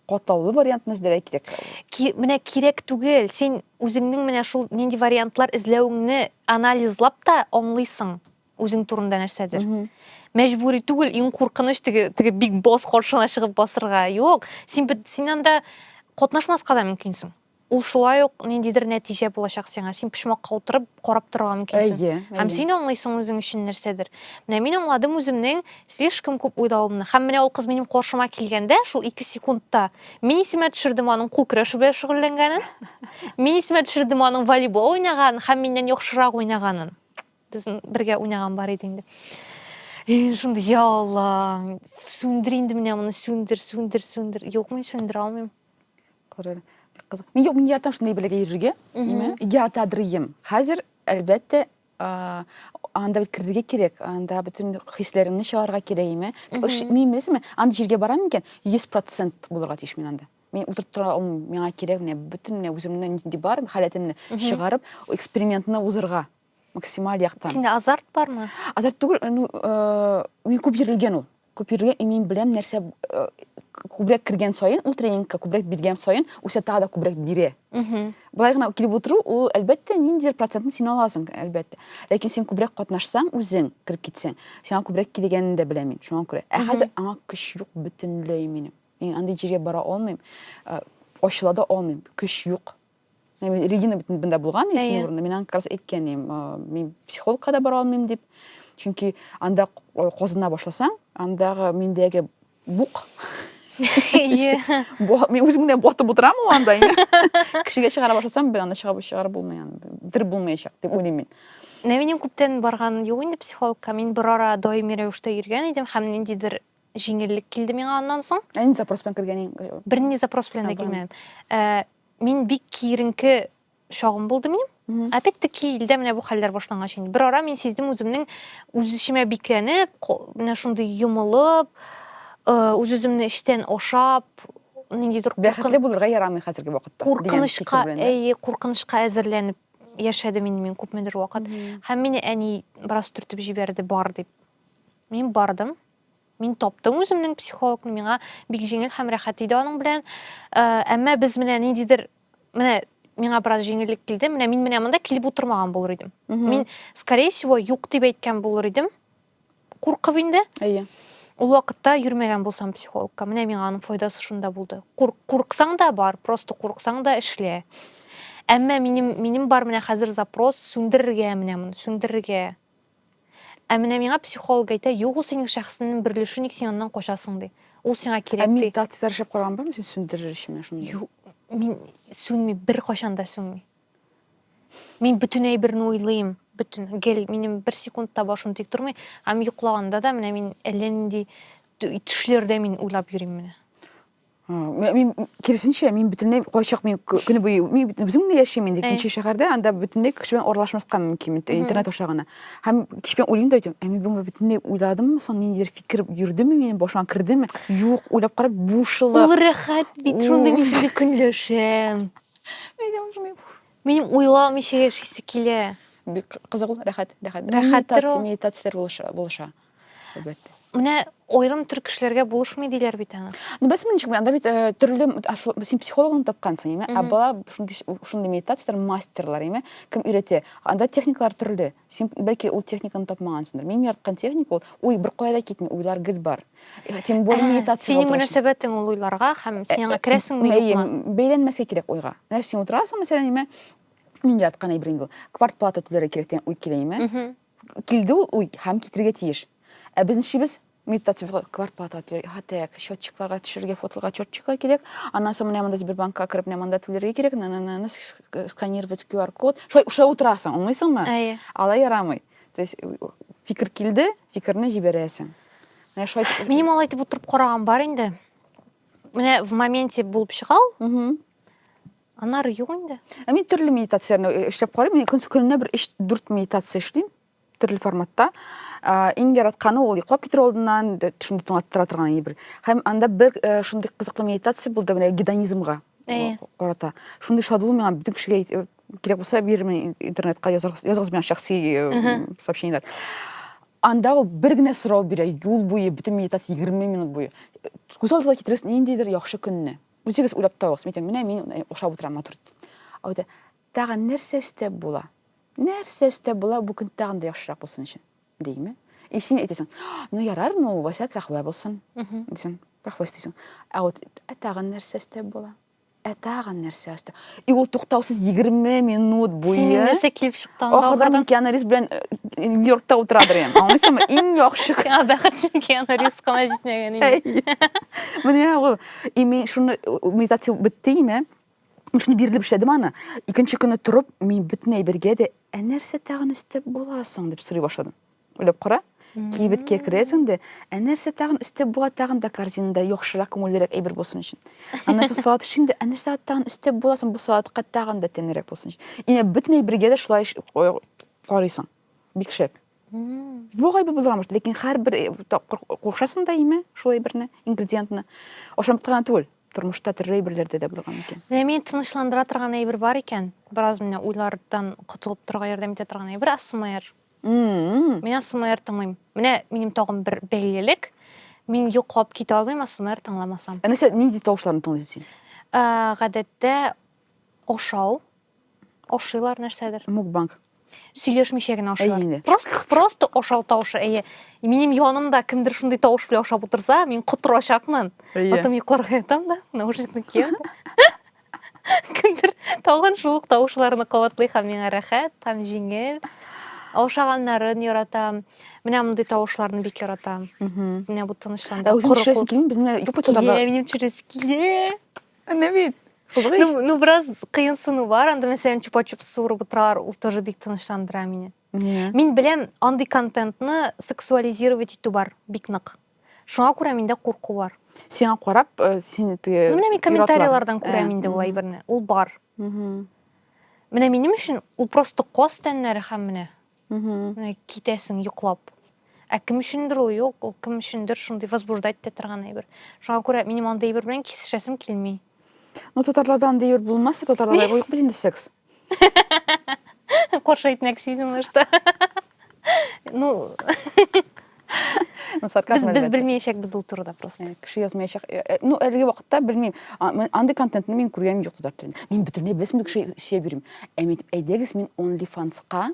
катлаулы вариантны эзләргә кирәк. Ки, менә кирәк
түгел. Син үзеңнең менә шул нинди вариантлар эзләвеңне анализлап та аңлыйсың үзең турында нәрсәдер. Mm -hmm. Мәҗбүри түгел, иң куркыныч теге теге биг босс каршына чыгып басырга. Юк, син син анда катнашмаска да мөмкинсең. Ул шулай ук ниндидер нәтиҗә булачак сиңа. Син почмакка утырып карап торырга мөмкинсең. Әйе, әйе. Һәм син аңлыйсың үзең өчен нәрсәдер. Менә мин аңладым үземнең слишком күп уйлавымны. Һәм менә ул кыз минем каршыма килгәндә, шул ике секундта мин исемә төшердем аның кул көрәше белән шөгыльләнгәнен, мин исемә төшердем аның волейбол уйнаганын һәм миннән яхшырак уйнаганын. Безнең бергә уйнаган бар иде инде. И мин шундый, я Алла, сүндер инде менә моны, сүндер, сүндер, сүндер. Юк, мин сүндерә алмыйм. Күрер.
Бик кызык. Мин юк, мин яратам шундый бәләгә йөрергә. Нимә? Яратадыр идем. Хәзер, әлбәттә, а, анда бит керергә кирәк, анда бөтен хисләремне чыгарга кирәк, име? Ш- Мин беләсеңме, анда җиргә барам икән, 100% булырга тиеш мин анда. Мин утырып тора алмыйм, миңа кирәк менә бөтен менә үземнең нинди бар, халәтемне чыгарып, экспериментны узырга. максималь яктан. Синдә азарт бармы?
Азарт түгел, э,
ну, э, мин күп йөрелгән ул. Күп йөрелгән, и мин беләм нәрсә э, күбрәк кергән саен, ул тренингка күбрәк биргән саен, үсә тагы да күбрәк бирә. Былай гына килеп утыру, ул әлбәттә ниндидер процентын син аласың, әлбәттә. Ләкин син күбрәк катнашсаң, үзең кереп китсәң, сиңа күбрәк килгәнен дә беләм мин, шуңа күрә. Ә хәзер аңа көч юк бөтенләй минем. Мин андый җиргә бара алмыйм, э, ачыла да алмыйм, көч юк. Әйме, Регина бит бында булган, Әйе. исеме урында. Мин аңа как раз әйткән идем, э, мин психологка да бара алмыйм дип. Чөнки анда к- э, казына башласаң, андагы миндәге бук Ие. Бо- Мин үзем генә батып утырам ул анда. инде. Кешегә чыгара башласам, бер анда чыгап чыгарып булмый аны. Бетереп булмаячак дип уйлыйм мин. Менә минем күптән
барган юк инде психологка. Мин бер ара даими рәвештә йөргән идем һәм ниндидер җиңеллек килде миңа аннан соң. Ә нинди запрос белән кергәнең?
Бернинди запрос белән
дә килмәдем. Ә, мин бик киеренке чагым булды минем. Опять таки илдә менә бу хәлләр башлангач инде. Бер ара мин сиздем үземнең үз эчемә бикләнеп, менә шундый йомылып, үз үземне эчтән ашап, ниндидер
бәхетле булырга ярамый хәзерге вакытта. Куркынычка, әйе, куркынычка
әзерләнеп яшәдем инде мин күпмедер вакыт. Һәм мине әни бераз төртеп җибәрде, бар дип. Мин бардым. Мин таптым үземнең психологны, миңа бик җиңел һәм рәхәт иде аның белән. Э, әмма без менә ниндидер менә миңа бераз җиңеллек килде. Менә мин менә монда килеп утырмаган булыр идем. Мин, скорее всего, юк дип әйткән булыр идем. Куркып инде. Әйе. Ул вакытта йөрмәгән булсам психологка, менә миңа аның файдасы шунда булды. Кур, курксаң да бар, просто курксаң да эшлә. Әмма минем минем бар менә хәзер запрос сүндерергә менә моны, сүндерергә. Ә менә миңа психолог әйтә, юк ул синең шәхесеңнең бер өлеше, ник син аннан качасың ди. Ул сиңа кирәк ди. Ә медитацияләр эшләп караган бармы
син сүндерер өчен менә шундый? Юк, мин
сүнми, беркайчан да сүнми. Мин бөтен әйберне уйлыйм, бөтен гел минем бер секунд та башым тик тормый, һәм йоклаганда да менә мин әллә нинди төшләрдә мин уйлап йөрим менә.
мин киресенчә мин бөтенләй кайчак мин көне буе мин үзем генә яшим инде икенче шәһәрдә анда бөтенләй кеше белән аралашмаска мөмкин интернет аша гына һәм кич белән уйлыйм да әйтәм ә мин бүгенге бөтенләй уйладыммы соң ниндидер фикер йөрдеме минем башыма кердеме юк уйлап карап бушылык ул рәхәт
бит шундый мин сезне көнләшәм минем уйламыйча яшисе килә бик кызык ул
рәхәт рәхәт рәхәттер ул медитацияләр булыша әлбәттә менә
аерым төр кешеләргә булышмый диләр бит аны ну бәс ничек анда бит
э, төрле син психологны тапкансың эме ә бала шундый медитацияләр мастерлар эме кем өйрәтә анда техникалар төрле син бәлки ул техниканы тапмагансыңдыр минем яраткан техника ул уй бер кая да китми уйлар гел бар э, тем более ә, медитация синең мөнәсәбәтең ул
уйларга һәм син аңа э, керәсеңме юкмы бәйләнмәскә кирәк уйга
менә син утырасың мәсәлән эме мин яраткан әйбер инде ул квартплата түләргә кирәк дигән уй килә эме Килде ул уй һәм китерергә тиеш. Ә безнең шибез медитация квартплата түләргә, хатек, счетчикларга төшерергә, фотоларга счетчиклар кирәк. Аннан соң менә монда Сбербанкка кереп, менә монда түләргә кирәк, на-на-на, сканировать QR-код. Шулай уша утырасың, аңлыйсыңмы? Әйе. Алай ярамый. То есть фикер килде, фикерне җибәрәсең. Менә шулай. Минем алай итеп утырып
караган бар инде. Менә в моменте булып чыгау. Аннары юк инде. Ә мин төрле медитацияне
э, эшләп карыйм. Мин көн көненә бер 3-4 медитация эшлим төрле форматта. Ә, иң яратканы ул йоклап китер алдыннан шундый тыңлаттыра торган иде бер. Һәм анда бер э, шундый кызыклы медитация булды менә гедонизмга э, карата. Шундый шатлык миңа бөтен кешегә э, кирәк булса бирермен интернетка языгыз, языгыз миңа шәхси э, сообщениеләр. Анда ул бер генә сорау бирә, юл буе бөтен медитация 20 минут буе. Күз алдына китерәсең ниндидер яхшы көнне. Үзегез уйлап табыгыз, мин әйтәм, менә мин ашап утырам матур. Әйтә, тагын нәрсә өстәп була? Нәрсә өстәп була бу көн тагын да яхшырак булсын өчен? Димме? И син әйтәсең, ну ярар, ну васят рәхвә булсын. Дисең, рәхвә өстисең. Ә вот ә тагын нәрсә өстәп була? Ә тагын нәрсә өстәп? И ул туктаусыз 20 минут буе. Син нәрсә килеп чыктан?
Ахырдан Киану Ривз белән
Нью-Йоркта утырадыр ем. Аңлыйсыңмы? Иң яхшы. Сиңа бәхетле Киану
Ривз кына җитмәгән инде. Менә
ул. И мин шуны медитация бетте име? Шуны бирелеп эшләдем аны. Икенче көнне торып, мин бөтен әйбергә дә, ә нәрсә тагын өстәп буласың дип сорый башладым. Уйлап кара. Кибеткә керәсең дә, ә нәрсә тагын өстәп була, тагын да корзинада яхшырак, күңеллерәк әйбер булсын өчен. Аннан соң салат эшлим дә, ә нәрсә тагын өстәп була соң бу салатка тагын да тәмлерәк булсын өчен. Ина бөтен әйбергә дә шулай карыйсың. Бик шәп. Бу гайбе булырга мөмкин, ләкин һәрбер э, тапкыр кушасың да име шул әйберне, ингредиентны. Ашамлыкта гына түгел, тормышта төрле әйберләрдә дә булырга мөмкин. Менә мин тынычландыра
торган әйбер бар икән, бераз менә уйлардан котылып торырга ярдәм итә торган әйбер АСМР. Мин АСМР тыңлыйм. Менә минем тагын бер бәйлелек. Мин йоклап китә алмыйм АСМР тыңламасам. Ә нәрсә, нинди тавышларны
тыңлыйсың син? Ә, гадәттә
ашау, ашыйлар нәрсәдер. Мукбанг.
Сөйләшмичә
генә ашыйлар. Әйе, просто, просто ашау тавышы, әйе. Минем янымда кемдер шундый тавыш белән ашап утырса, мин котырачакмын. Әйе. Потом йокларга ятам да, наушникны киям. Кемдер тагын шул ук тавышларны кабатлый һәм миңа рәхәт һәм җиңел. Аушаганнарын яратам. Менә мондый тавышларны бик яратам. Менә бу тынычланды. Ә үзең чирәсе килми, безне
юпы тотарга. Килә, минем чирәсе килә.
Әнә бит.
Ну, ну, бераз
кыенсыну бар. Анда, мәсәлән, чупа-чуп суырып утырар, ул тоже бик тынычландыра мине. Мин беләм, андый контентны сексуализировать итү бар, бик нык. Шуңа күрә миндә курку бар. Сиңа карап,
э, син теге Ну, менә мин ир-атлар. комментарийлардан
Ә, күрәм инде ул мгм, әйберне. Ул бар. мгм, Менә минем өчен ул просто каз тәннәре һәм менә мгм. менә китәсең йоклап. Ә кем өчендер ул юк, ул кем өчендер шундый возбуждать итә торган әйбер. Шуңа күрә минем андый әйбер белән кисешәсем килми. Ну, татарларда
андый әйбер булмас, татарларда юк бит инде секс.
Коршы әйтмәкче идем, может. Ну, Ну, сарказм без, без әлбәттә. белмәячәкбез ул турыда просто. Э, Кеше язмаячак. Э, э,
Ну, әлеге вакытта белмим. А, мен- Андый контентны мин күргәнем юк татар телендә. Мин бөтенләй беләсем кеше сөяп йөрим. Ә мин әйтеп, әйдәгез, мин OnlyFans-ка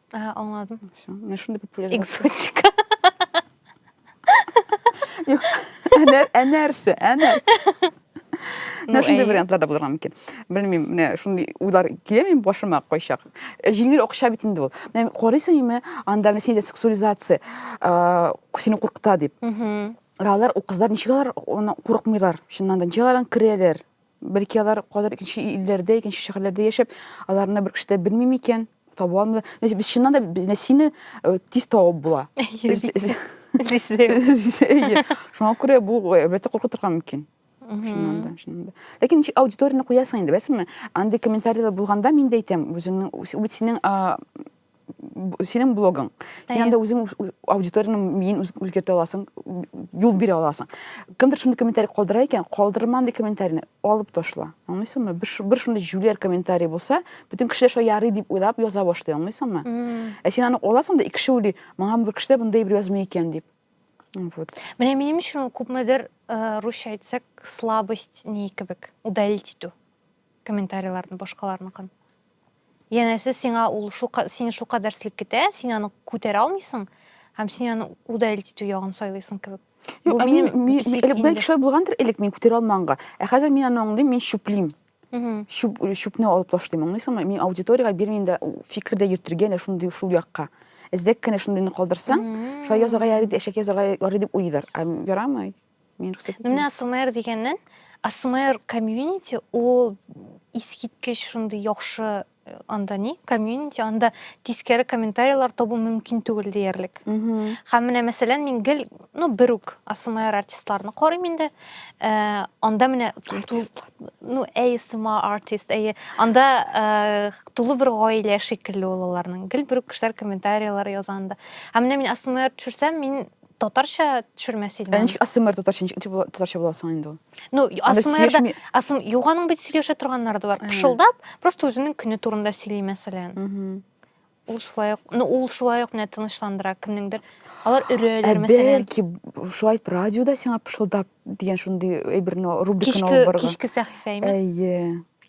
Ә, аңладым. Всё.
Менә шундый
популяр. Экзотика. Юк. Ә нә- Ә нәрсә? Ә нәрсә? Ну, Менә шундый әйе. вариантлар да булырга мөмкин. Белмим, менә шундый уйлар килә минем башыма кайчак. Э, Җиңел акча бит инде ул. Менә карыйсың име, анда менә синдә сексуализация, э, сине куркыта дип. Мгм. Ә Алар, ул кызлар ничек алар аны курыкмыйлар? Чыннан да, ничек алар аны керәләр? Бәлки алар кадәр икенче илләрдә, икенче шәһәрләрдә яшәп, аларны бер кеше дә белми микән? Таба алмыйлар. Без без чыннан да без Нәсине э, тиз табып була. Шуңа күрә бу әлбәттә куркытырга мөмкин. Чыннан да, чыннан да. Ләкин ничек аудиторияне куясың инде, беләсеңме? Андый комментарийлар булганда мин дә әйтәм, үзеңнең үз- үз- синең а, синең блогың син анда үзең аудиторияны миен үзгәртә аласың юл бирә аласың кемдер шундый комментарий калдыра икән калдырма андый комментарийны алып ташла аңлыйсыңмы бер, бер шундый җүләр комментарий булса бөтен кешеләр шулай ярый дип уйлап яза башлый аңлыйсыңмы ә син аны аласың да икеше уйлый маңа бер кешеләр мондай бер язмый икән дип вот менә минем өчен
ул күпмедер э, русча әйтсәк слабость ни кебек удалить итү комментарийларны башкаларныкын Янәсе, сиңа ул шул сине шул кадәр селкетә, син аны күтәрә алмыйсың һәм син аны удалить итү ягын сайлыйсың кебек. Бу минем
элек шулай булгандыр, элек мин күтәрә алманга. Ә хәзер мин аны аңлыйм, мин чүплим. Чүп, чүпне алып ташлыйм, аңлыйсыңмы? Мин аудиториягә бирмим дә фикер дә йөртергә дә шундый шул якка. Эзләп кенә шундыйны калдырсаң, шулай язарга ярый, әшәке язарга ярый дип уйлыйлар. Ярамый. Мин рөхсәт итмим. Менә АСМР дигәннән,
АСМР комьюнити ул искиткеч шундый яхшы э, анда ни комьюнити анда тискәре комментарийлар табу мөмкин түгел диярлек һәм менә мәсәлән мин гел ну бер үк асмр артистларны карыйм инде э, анда менә ну asma артист әйе анда э, тулы бер гаилә шикелле ул аларның гел бер үк кешеләр комментарийлар яза анда һәм менә мин асмр төшерсәм мин Татарча төшермә син. Ә ничек АСМР татарча ничек
татарча була соң инде ул? Ну, АСМРда
АСМ юк аның бит сөйләшә торганнары да бар. Пышылдап, просто үзенең көне турында сөйли мәсәлән. Ул шулай ук, ну ул шулай ук менә тынычландыра кемнеңдер. Алар өрәләр мәсәлән. Бәлки шулай
радиода сиңа пышылдап дигән шундый әйберне рубриканы алып барган. Кичке сәхифә име?
Әйе.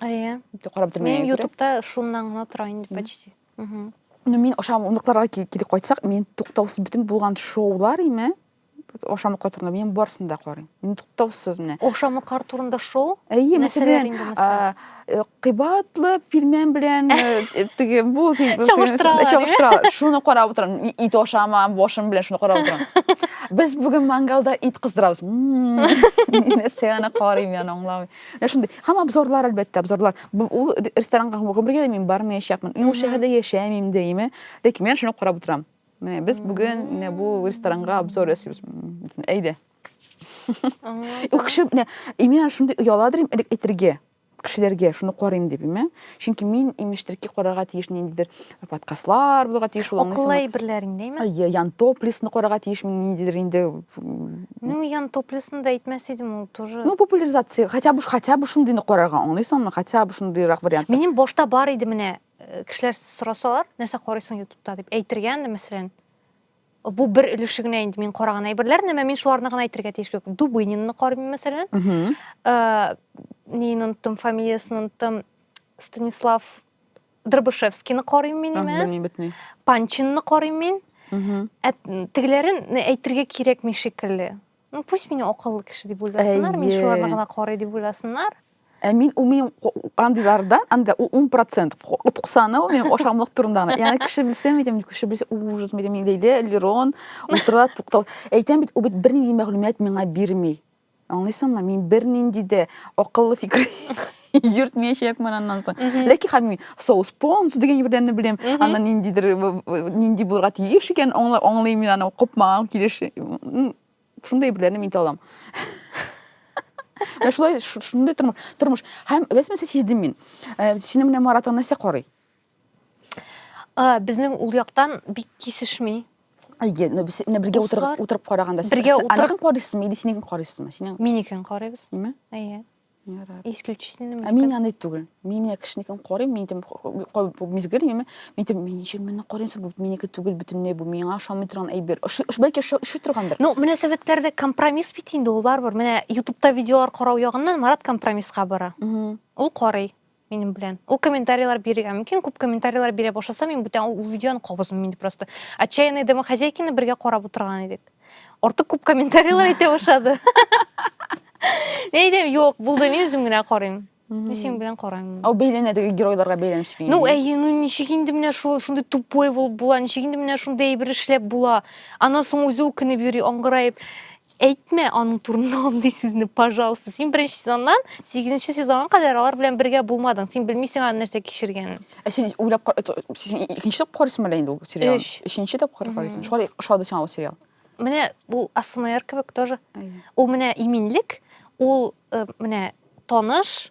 Әйе. Итеп карап
тормый. Мин
ютубта шуннан
гына тора инде почти. Угу. Ну, мин
ашамлыкларга кире кайтсак, мин туктаусыз бүтән булган шоулар име? Ашамлыклар турында мин барсын да карыйм. Мин туктаусыз менә. Ашамлыклар турында
шоу? Әйе, мәсәлән,
э, кыйбатлы пилмән белән э, э, теге бу чагыштыралар. Шуны карап утырам. Ит ашамам, башым белән шуны карап утырам. Без бүген мангалда ит кыздырабыз. Нәрсә аны карыйм, яны аңламыйм. Менә шундый. Һәм обзорлар, әлбәттә, обзорлар. Бу- Ул ре- ресторанга гомергә дә мин бармаячакмын. Мин ул Мгм. шәһәрдә яшәмим дә, яме. Ләкин мин шуны карап утырам. Менә без бүген менә бу ресторанга обзор ясыйбыз. М, Әйдә. Аңладым. Ул кеше менә именно шундый ояладыр им- элек әйтергә кешеләргә шуны карыйм дип, име? Чөнки мин имештер ки карарга тиеш ниндидер подкастлар булырга тиеш ул акыллы әйберләр инде әйме
ян топлисны
карарга тиешме ниндидер инде ну
ян топлисны да әйтмәс идем ул тоже ну популяризация хотя бы
хотя бы шундыйны карарга аңлыйсыңмы хотя бы шундыйрак вариант минем башта бар иде
менә э, кешеләр сорасалар нәрсә карыйсың ютубта дип әйтергә инде мәсәлән бу бер өлеше генә инде мин караган әйберләр әмма мин шуларны гына әйтергә тиеш юк дубынинны карыйм мәсәлән э, нин оныттым фамилиясен оныттым станислав Дробышевскийны карыйм мин име? Белмим бетни. Панчинны карыйм мин. Ә тегеләрен әйтергә кирәкми шикелле. Ну пусть меня акыллы кеше дип уйласыннар, мин шуларны гына карый дип уйласыннар. Ә мин ул минем
андыйларда, анда ул 10%, 90-ы ул минем ашамлык турында гына. Ягъни кеше белсә, әйтәм, кеше белсә, ужас, әйтәм, Лилия, Лерон, утыра, туктал. Әйтәм бит, ул бит бернинди мәгълүмат миңа бирми. Аңлыйсыңмы, мин бернинди дә акыллы фикер йөртмәячәкмен аннан соң. Ләкин хәзер мин соус понс дигән бердәнне беләм, аннан ниндидер нинди булырга тиеш икән, аңлыйм мин аны купмаган килеш. Шундый әйберләрне мин талам. Менә шулай шундый тормыш. Тормыш. Һәм без мәсә сиздем мин. Сине менә Марат Анася карый. Ә,
безнең ул яктан бик кисешми. Әйе, но без
менә бергә утырып Дуслар. утырып караганда сез- Бергә сез утырып- аныкын карыйсызмы
или синекен
карыйсызмы? Синең Минекен карыйбыз. ниме?
Әйе.
Ярар. Исключительно Ә мин
аны түгел.
Мин менә кешенекен карыйм, мин әйтәм, «Ой, кай- бу мизгел миме? Мин әйтәм, мин ничек моны карыйм, соң бу минеке түгел бөтенләй, бу миңа ошамый торган әйбер. Ошый, ош- бәлки ошый, ошый торгандыр. Ну, мөнәсәбәтләрдә
компромисс бит инде ул барыбер. Менә Ютубта видеолар карау ягыннан Марат компромисска бара. Мгм. Ул карый. минем белән ул комментарийлар бирергә мөмкин күп комментарийлар бирә башласа мин бүтән ул видеоны кабызмыйм инде просто отчаянные домохозяйкины бергә карап утырган идек артык күп комментарийлар әйтә башлады мен әйтәм юк булды мин үзем генә карыйм мин синең белән караймын ау бәйләнә теге геройларга
бәйләнеп сөйли ну әйе ну ничек
инде менә шул шундый тупой булып була ничек инде менә шундый әйбер эшләп була аннан соң үзе үкенеп йөри аңгыраеп әйтмә аның турында андый сүзне пожалуйста син беренче сезоннан сигезенче сезонга кадәр алар белән бергә булмадың син белмисең аның нәрсә кичергәнен ә син уйлап
син икенче тапкыр карыйсың әле инде ул сериал өч өченче тапкыр
карыйсың
шулай ошады сиңа ул сериал менә ул
асмр кебек тоже ул менә
иминлек
ул э, менә таныш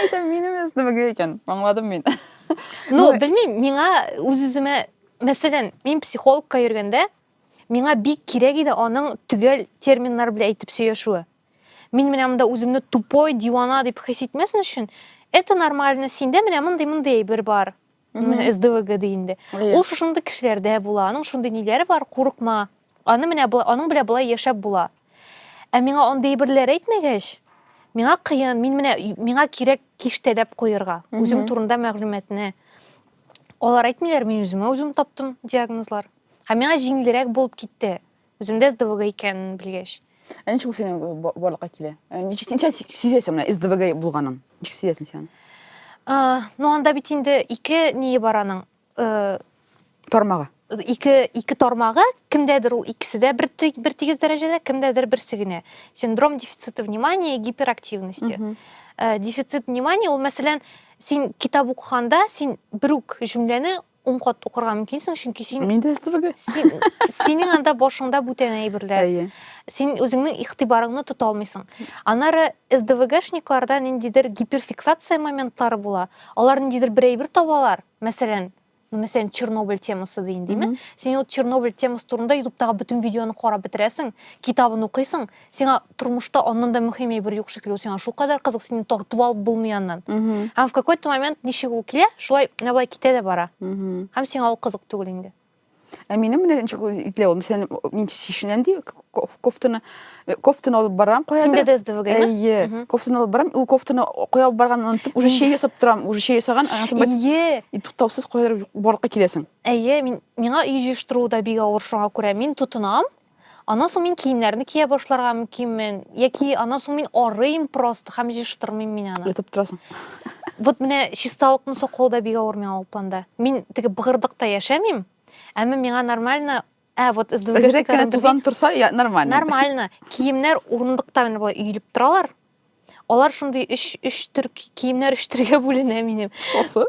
Әйтәм, минем СДВГ икән. Аңладым мин. Ну, белмим,
миңа үз-үземә, мәсәлән, мин психологка йөргәндә, миңа бик кирәк иде аның төгәл терминнар белән әйтеп сөйләшүе. Мин менә монда үземне тупой, дивана дип хис итмәсен өчен, это нормально, синдә менә мондый-мондый әйбер бар. СДВГ ди инде. Ул шушында кешеләрдә була, аның шундый ниләре бар, курыкма. Аны менә аның белән болай яшәп була. Ә миңа андый берләр әйтмәгәч, миңа кыен, мин менә миңа кирәк киштәләп куерга, үзем турында мәгълүматны. Алар әйтмиләр, мин үземә үзем таптым диагнозлар. Һәм миңа җиңелрәк булып китте. Үземдә СДВГ икән белгәч. Ә ничек ул синең э,
барлыкка килә? Э, ничек син сән сизәсең менә СДВГ булганын? Ничек сизәсең сен? Э, ну
анда бит инде ике ние бар аның.
Тормагы. Ике
ике тормагы, кемдәдер ул икесе дә бер бер тигез дәрәҗәдә, кемдәдер берсе генә. Синдром дефицита внимания и гиперактивности. Дефицит внимания ул мәсәлән, син китап укыганда син бер үк җөмләне ун кат укырга мөмкинсең, чөнки син Мин дә строгый.
син синең
анда башыңда бүтән әйберләр. Әйе. Син
үзеңнең
игътибарыңны тота алмыйсың. Аннары СДВГшникларда ниндидер гиперфиксация моментлары була. Алар ниндидер бер әйбер табалар, мәсәлән, ну, мәсәлән, Чернобыль темасы дин, диме? Мгм. Син ул Чернобыль темасы турында Ютубтагы бөтен видеоны карап бетерәсең, китабын укыйсың, сиңа тормышта аннан да мөһим әйбер юк шикелле ул сиңа шулкадәр кызык синең тартып алып булмый аннан һәм в какой то момент ничек ул килә шулай менә болай китә дә бара һәм сиңа ул кызык түгел инде ә минем менә
ничек итле ул сен мин шешенәм ди кофтаны э, кофтаны алып барам куя синдә дә сдвг әйе
кофтаны алып
барам ул кофтаны куя алып барганын онытып уже чәй ясап торам уже чәй ясаган әйе и
туктаусыз куядыр
барлыкка киләсең әйе мин миңа
өй җыештыру да бик авыр шуңа күрә мин тотынам Аннан соң мин киемнәрне кия башларга мөмкинмен, яки аннан соң мин арыйм просто һәм җыештырмыйм мин аны. Ятып торасың.
Вот менә
чисталыкны саклау да бик авыр миңа ул планда. Мин теге быгырдыкта яшәмим, әмма миңа нормально Ә, вот СДВГшниклар. Әзрәк кенә тузан
торса, нормально. Нормально. Киемнәр
урындыкта менә болай өелеп торалар. Алар шундый өч өч төр киемнәр өч төргә бүленә минем. Осы?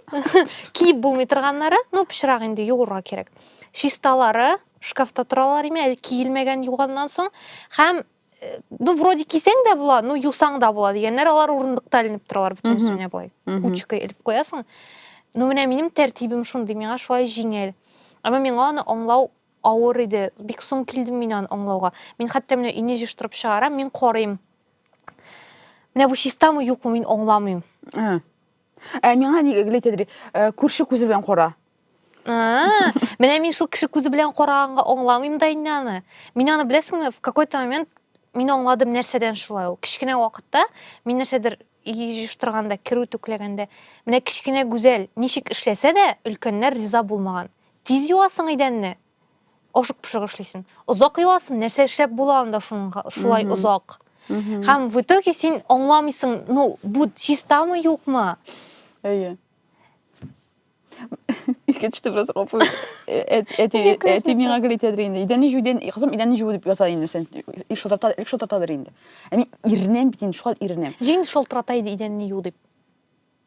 Киеп
булмый торганнары, ну пычрак инде юырга кирәк. Чисталары шкафта торалар име, әле киелмәгән юганнан соң һәм э, ну вроде кисәң дә була, ну юсаң да була дигәннәр, алар урындыкта эленеп торалар бөтен өстенә болай. Кучкой элеп куясың. Ну менә минем тәртибем шундый, миңа шулай җиңел. Әмма миңа аны аңлау авыр иде. Бик соң килдем мин аны аңлауга. Мин хәтта менә өйне җыштырып чыгарам, мин карыйм Менә бу чистамы юкмы мин аңламыйм. Ә.
Ә миңа ни әйтәдер? Э, күрше күзе белән кара. А,
менә мин шул кеше күзе белән караганга аңламыйм да инде аны. Мин аны беләсеңме, в какой-то момент мин аңладым нәрсәдән шулай ул. Кечкенә вакытта мин нәрсәдер җыштырганда, керү түкләгәндә, менә кечкенә гүзәл ничек эшләсә дә, өлкәннәр риза булмаган. Тиз юасың идәнне, Ашык-пошык эшлисең. Озак еласың, нәрсә эшләп була анда шулай озак. Һәм в итоге син аңламыйсың, ну, бу чистамы, юкмы? Әйе.
Искә төште бераз гапу. Әти миңа гел әйтәдер инде. Идәнне җуу дигән, кызым, идәнне җуу дип яза инде сен. Ил шылтырата, ил шылтыратадыр инде. Ә мин иренәм бит инде, шулай иренәм. Җин шылтырата иде
идәнне юу дип.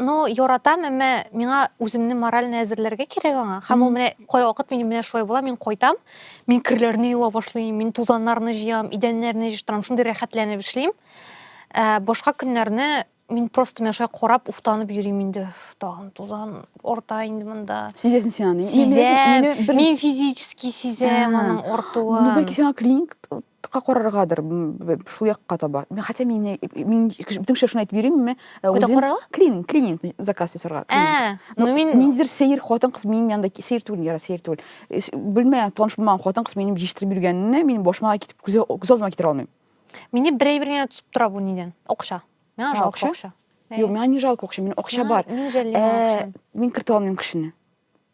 Ну,
яратам, әмма миңа үземне морально әзерләргә кирәк аңа. Һәм ул менә кайвакыт минем белән шулай була, мин кайтам, мин керләрне юа башлыйм, мин тузаннарны җыям, идәннәрне җыштырам, шундый рәхәтләнеп эшлим. Ә, башка көннәрне мин просто менә шулай карап, уфтанып йөрим инде. Тагын тузан орта инде монда. Сизәсең син аны.
Сизәм. Мин
физически сизәм аның ортуын. Бүген сиңа клиник
тыкка караргадыр шул якка таба хотя мин мин бөтен кешегә шуны әйтеп йөримме э, үзем клининг клининг заказ ясарга ә, ну мин
ниндидер сәер хатын кыз
минем янда сәер түгел яра сәер түгел э, белмәгән таныш булмаган хатын кыз минем җиштертеп йөргәнне мин башыма китеп күз алдыма китерә алмыйм мине бер әйбер
генә тотып тора бу нидән акча миңа жалко акча юк миңа не жалко
акча мин акча бар мин жәллим акча
мин кертә алмыйм кешене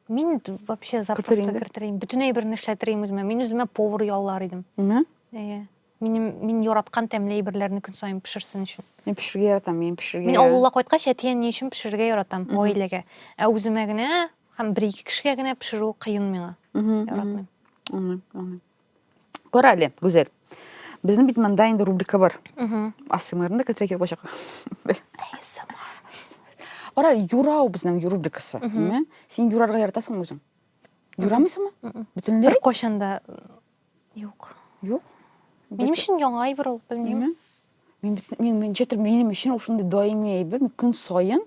Мин
вообще запросто кертерим. Бөтенләй берне эшләтерим үземә. Мин үземә повар яллар идем. Әйе. Әйе. Минем мин яраткан тәмле әйберләрне көн саен пешерсен өчен. Мин пешерергә яратам, мин
пешерергә. Мин авылга кайткач, әтием
ни өчен пешерергә яратам, гаиләгә. Ә үземә генә һәм бер-ике кешегә генә пешерү кыен миңа. Яратмыйм. Аңлыйм, аңлыйм.
Кара әле, Гүзәл. Безнең бит монда инде рубрика бар. АСМРны да китерә кирәк булачак. Кара, юрау безнең рубрикасы. Мә, Син юрарга яратасыңмы үзең? Юрамыйсыңмы? Бөтенләй? Бер кайчан да
юк. Юк.
Минем өчен
яңа әйбер ул, белмим. Әйме? Мин бит- мин
мин ничектер минем өчен ул шундый даими әйбер, мин көн саен,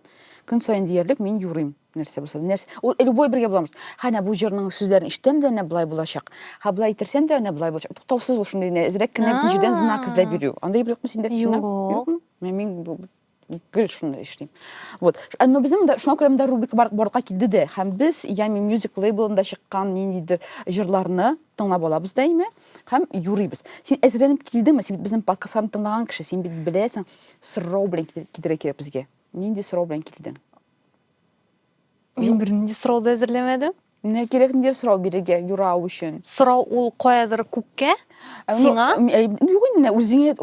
көн саен диярлек мин юрыйм. Нәрсә булса да, нәрсә, ул любой бергә булабыз. Ха, әнә бу җырның сүзләрен ишетәм дә, әнә былай булачак. Ха, былай итерсәм дә, әнә былай булачак. Туктаусыз ул шундый генә, әзрәк кенә бөтен җирдән знак эзләп А. йөрү. Андый юкмы синдә? Синдә? Юк. Юкмы? Мә,
Мин бу- бу-
гел шундый эшлим. Вот. Ш- ә, Но безнең монда шуңа күрә монда рубрика бар- барлыкка килде дә. Һәм без Ями Music лейблында чыккан ниндидер җырларны тыңлап алабыз да име һәм юрыйбыз син әзерләнеп килдеңме син бит безнең подкастларны тыңлаган кеше син бит беләсең сорау белән килергә кирәк безгә нинди сорау белән килдең
мин бернинди сорау да әзерләмәдем Менә кирәк нидер
сорау бирергә юрау өчен. Сорау ул каядыр
күккә, сиңа? Юк инде,
үзеңә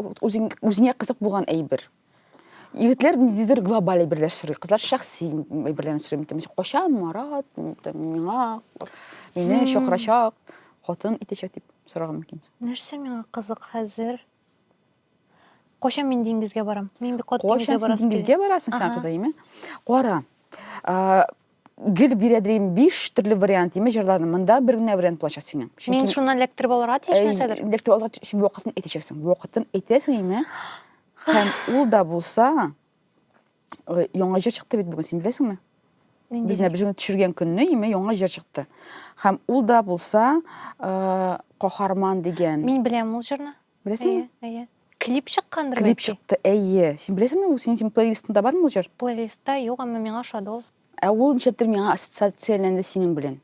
үзеңә кызык булган әйбер. егетләр ниндидер глобаль әйберләр сорый кызлар шәхси әйберләрне сорый там качан марат там миңа мине чакырачак хатын итәчәк дип сорарга мөмкин нәрсә миңа кызык
хәзер качан мин диңгезгә барам мин бик каты диңгезгә барасың качан диңгезгә барасың син кызы
име кара гел бирәдерим биш төрле вариант име җырларны монда бер генә вариант булачак синең мин шуннан электр
булырга тиеш нәрсәдер электр алырга тиеш вакытын
әйтәчәксең вакытын әйтәсең име Һәм ул да булса, э, яңа җыр чыкты бит бүген, син беләсеңме? Без менә бүген төшергән көнне име яңа җыр чыкты. Һәм ул да булса, э, каһарман дигән. Мин беләм ул җырны.
Беләсеңме? Әйе, әйе.
Клип
чыккандыр Клип чыкты, әйе.
Син беләсеңме, ул синең плейлистыңда бармы ул җыр? Плейлистта юк, әмма миңа
ошады ул. Ә ул ничектер миңа
ассоциацияләнде синең белән.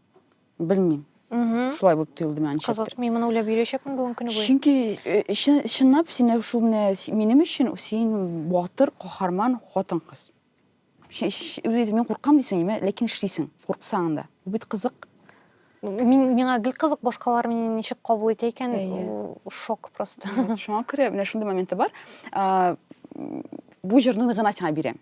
Белмим. Шулай булып тоелды миңа ничектер. Кызык, мин моны уйлап йөрәчәкмен
бүгін көне буе. Чөнки э,
чынлап син шул менә минем өчен син батыр, каһарман хатын кыз. Үзе мин куркам дисең, әмма ләкин эшлисең, курксаң да. Бу бит кызык. Мин
миңа гел кызык башкалар мине ничек кабул итә икән, шок просто. Шуңа күрә менә
шундый моменты бар. Бу җырны гына сиңа бирәм.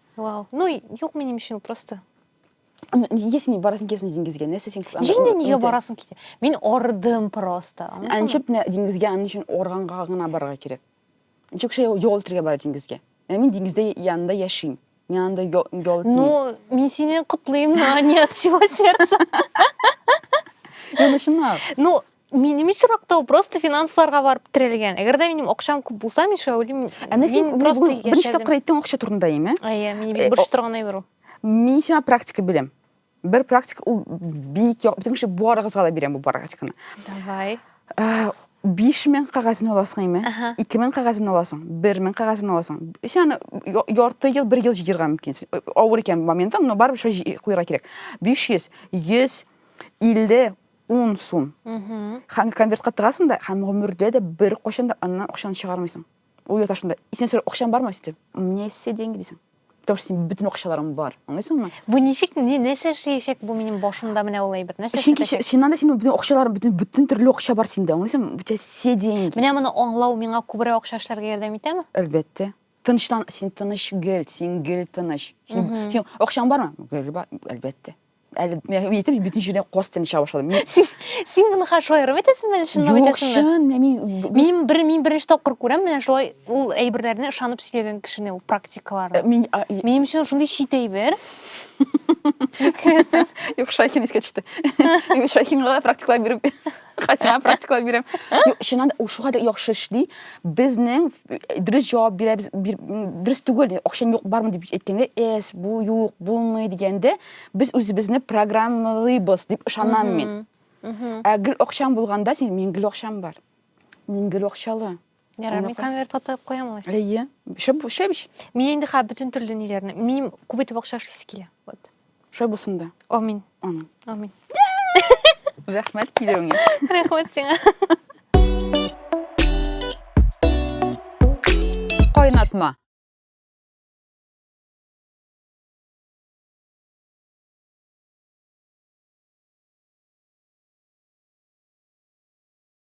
Вау. Ну, юк минем өчен просто.
Нигә син барасың кесен диңгезгә? Нәрсә син? Җиңдә нигә барасың
китә? Мин ордым просто. Әнчеп не диңгезгә
аның өчен органга гына барырга кирәк. Ничек шулай ял итәргә бара диңгезгә? Ә мин диңгездә янында яшим. Мин анда ял итмим. Ну, мин сине
котлыйм, но не от всего сердца. Ну,
чынлап. Ну, минем
очракта ул просто финансларга барып терәлгән әгәр дә минем акчам күп булса мин шулай уйлыйм ә менә син просто
беренче тапкыр әйттең акча турында әйме әйе мин бик борчып торган
әйбер ул мин сиңа практика
бирәм бер практика ул бик бүтән кеше барыгызга да бирәм бу практиканы давай биш мең кәгазен аласың әйме ике мең кәгазен аласың бер мең кәгазен аласың син аны ярты ел бер ел җыерга мөмкин авыр икән моментым но барыбер шулай куярга кирәк биш йөз йөз илле Ун сум. Һәм конвертка тыгасың да, һәм гомердә дә бер кайчан да аннан акчаны чыгармыйсың. Ул ята шунда. Исен сорый, акчаң бармы? Сидим. У меня есть все деньги, дисең. Потому что синең бөтен акчаларың бар. Аңлыйсыңмы? Бу ничек, ни, нәрсә
эшләячәк бу минем башымда менә ул әйбер? Нәрсә эшләячәк? Чөнки синнән дә синең
бөтен акчаларың, бөтен, бөтен төрле акча бар синдә. Аңлыйсыңмы? У тебя все деньги. Менә моны аңлау миңа
күбрәк акча эшләргә ярдәм итәме? Әлбәттә.
Тынычлан, син тыныч гел, син гел тыныч. Син, син акчаң бармы? Гел бар, әлбәттә. әле мен әйтәм бөтен җирдә каз тәне чыга башлады мин син син моны хәзер
шаярып әйтәсеңме әле чынлап әйтәсеңме юк чын мин мин бер мин беренче тапкыр күрәм менә шулай ул әйберләрне ышанып сөйләгән кешене ул практикаларны мин минем өчен шундый чит әйбер
юк шайхин искә төште мин шайхинга практикалар биреп хәтима практикалар бирәм чыннан да ул шулкадәр яхшы эшли безнең дөрес җавап бирәбез бир, дөрес түгел акчам юк бармы дип әйткәндә эс бу юк булмый дигәндә без үзебезне программалыйбыз дип ышанам мин ә гел акчаң булганда син мин гел акчам бар мин гел акчалы Ярар, мин конверт
атып куям алай. Әйе. Шәп, шәп.
Мин инде хә бөтен
төрле ниләрне. Мин күп итеп акча эшлисе килә. Вот. Шулай булсын
да. Амин. Амин.
Амин.
Рәхмәт килүеңә. Рәхмәт сиңа. Кайнатма.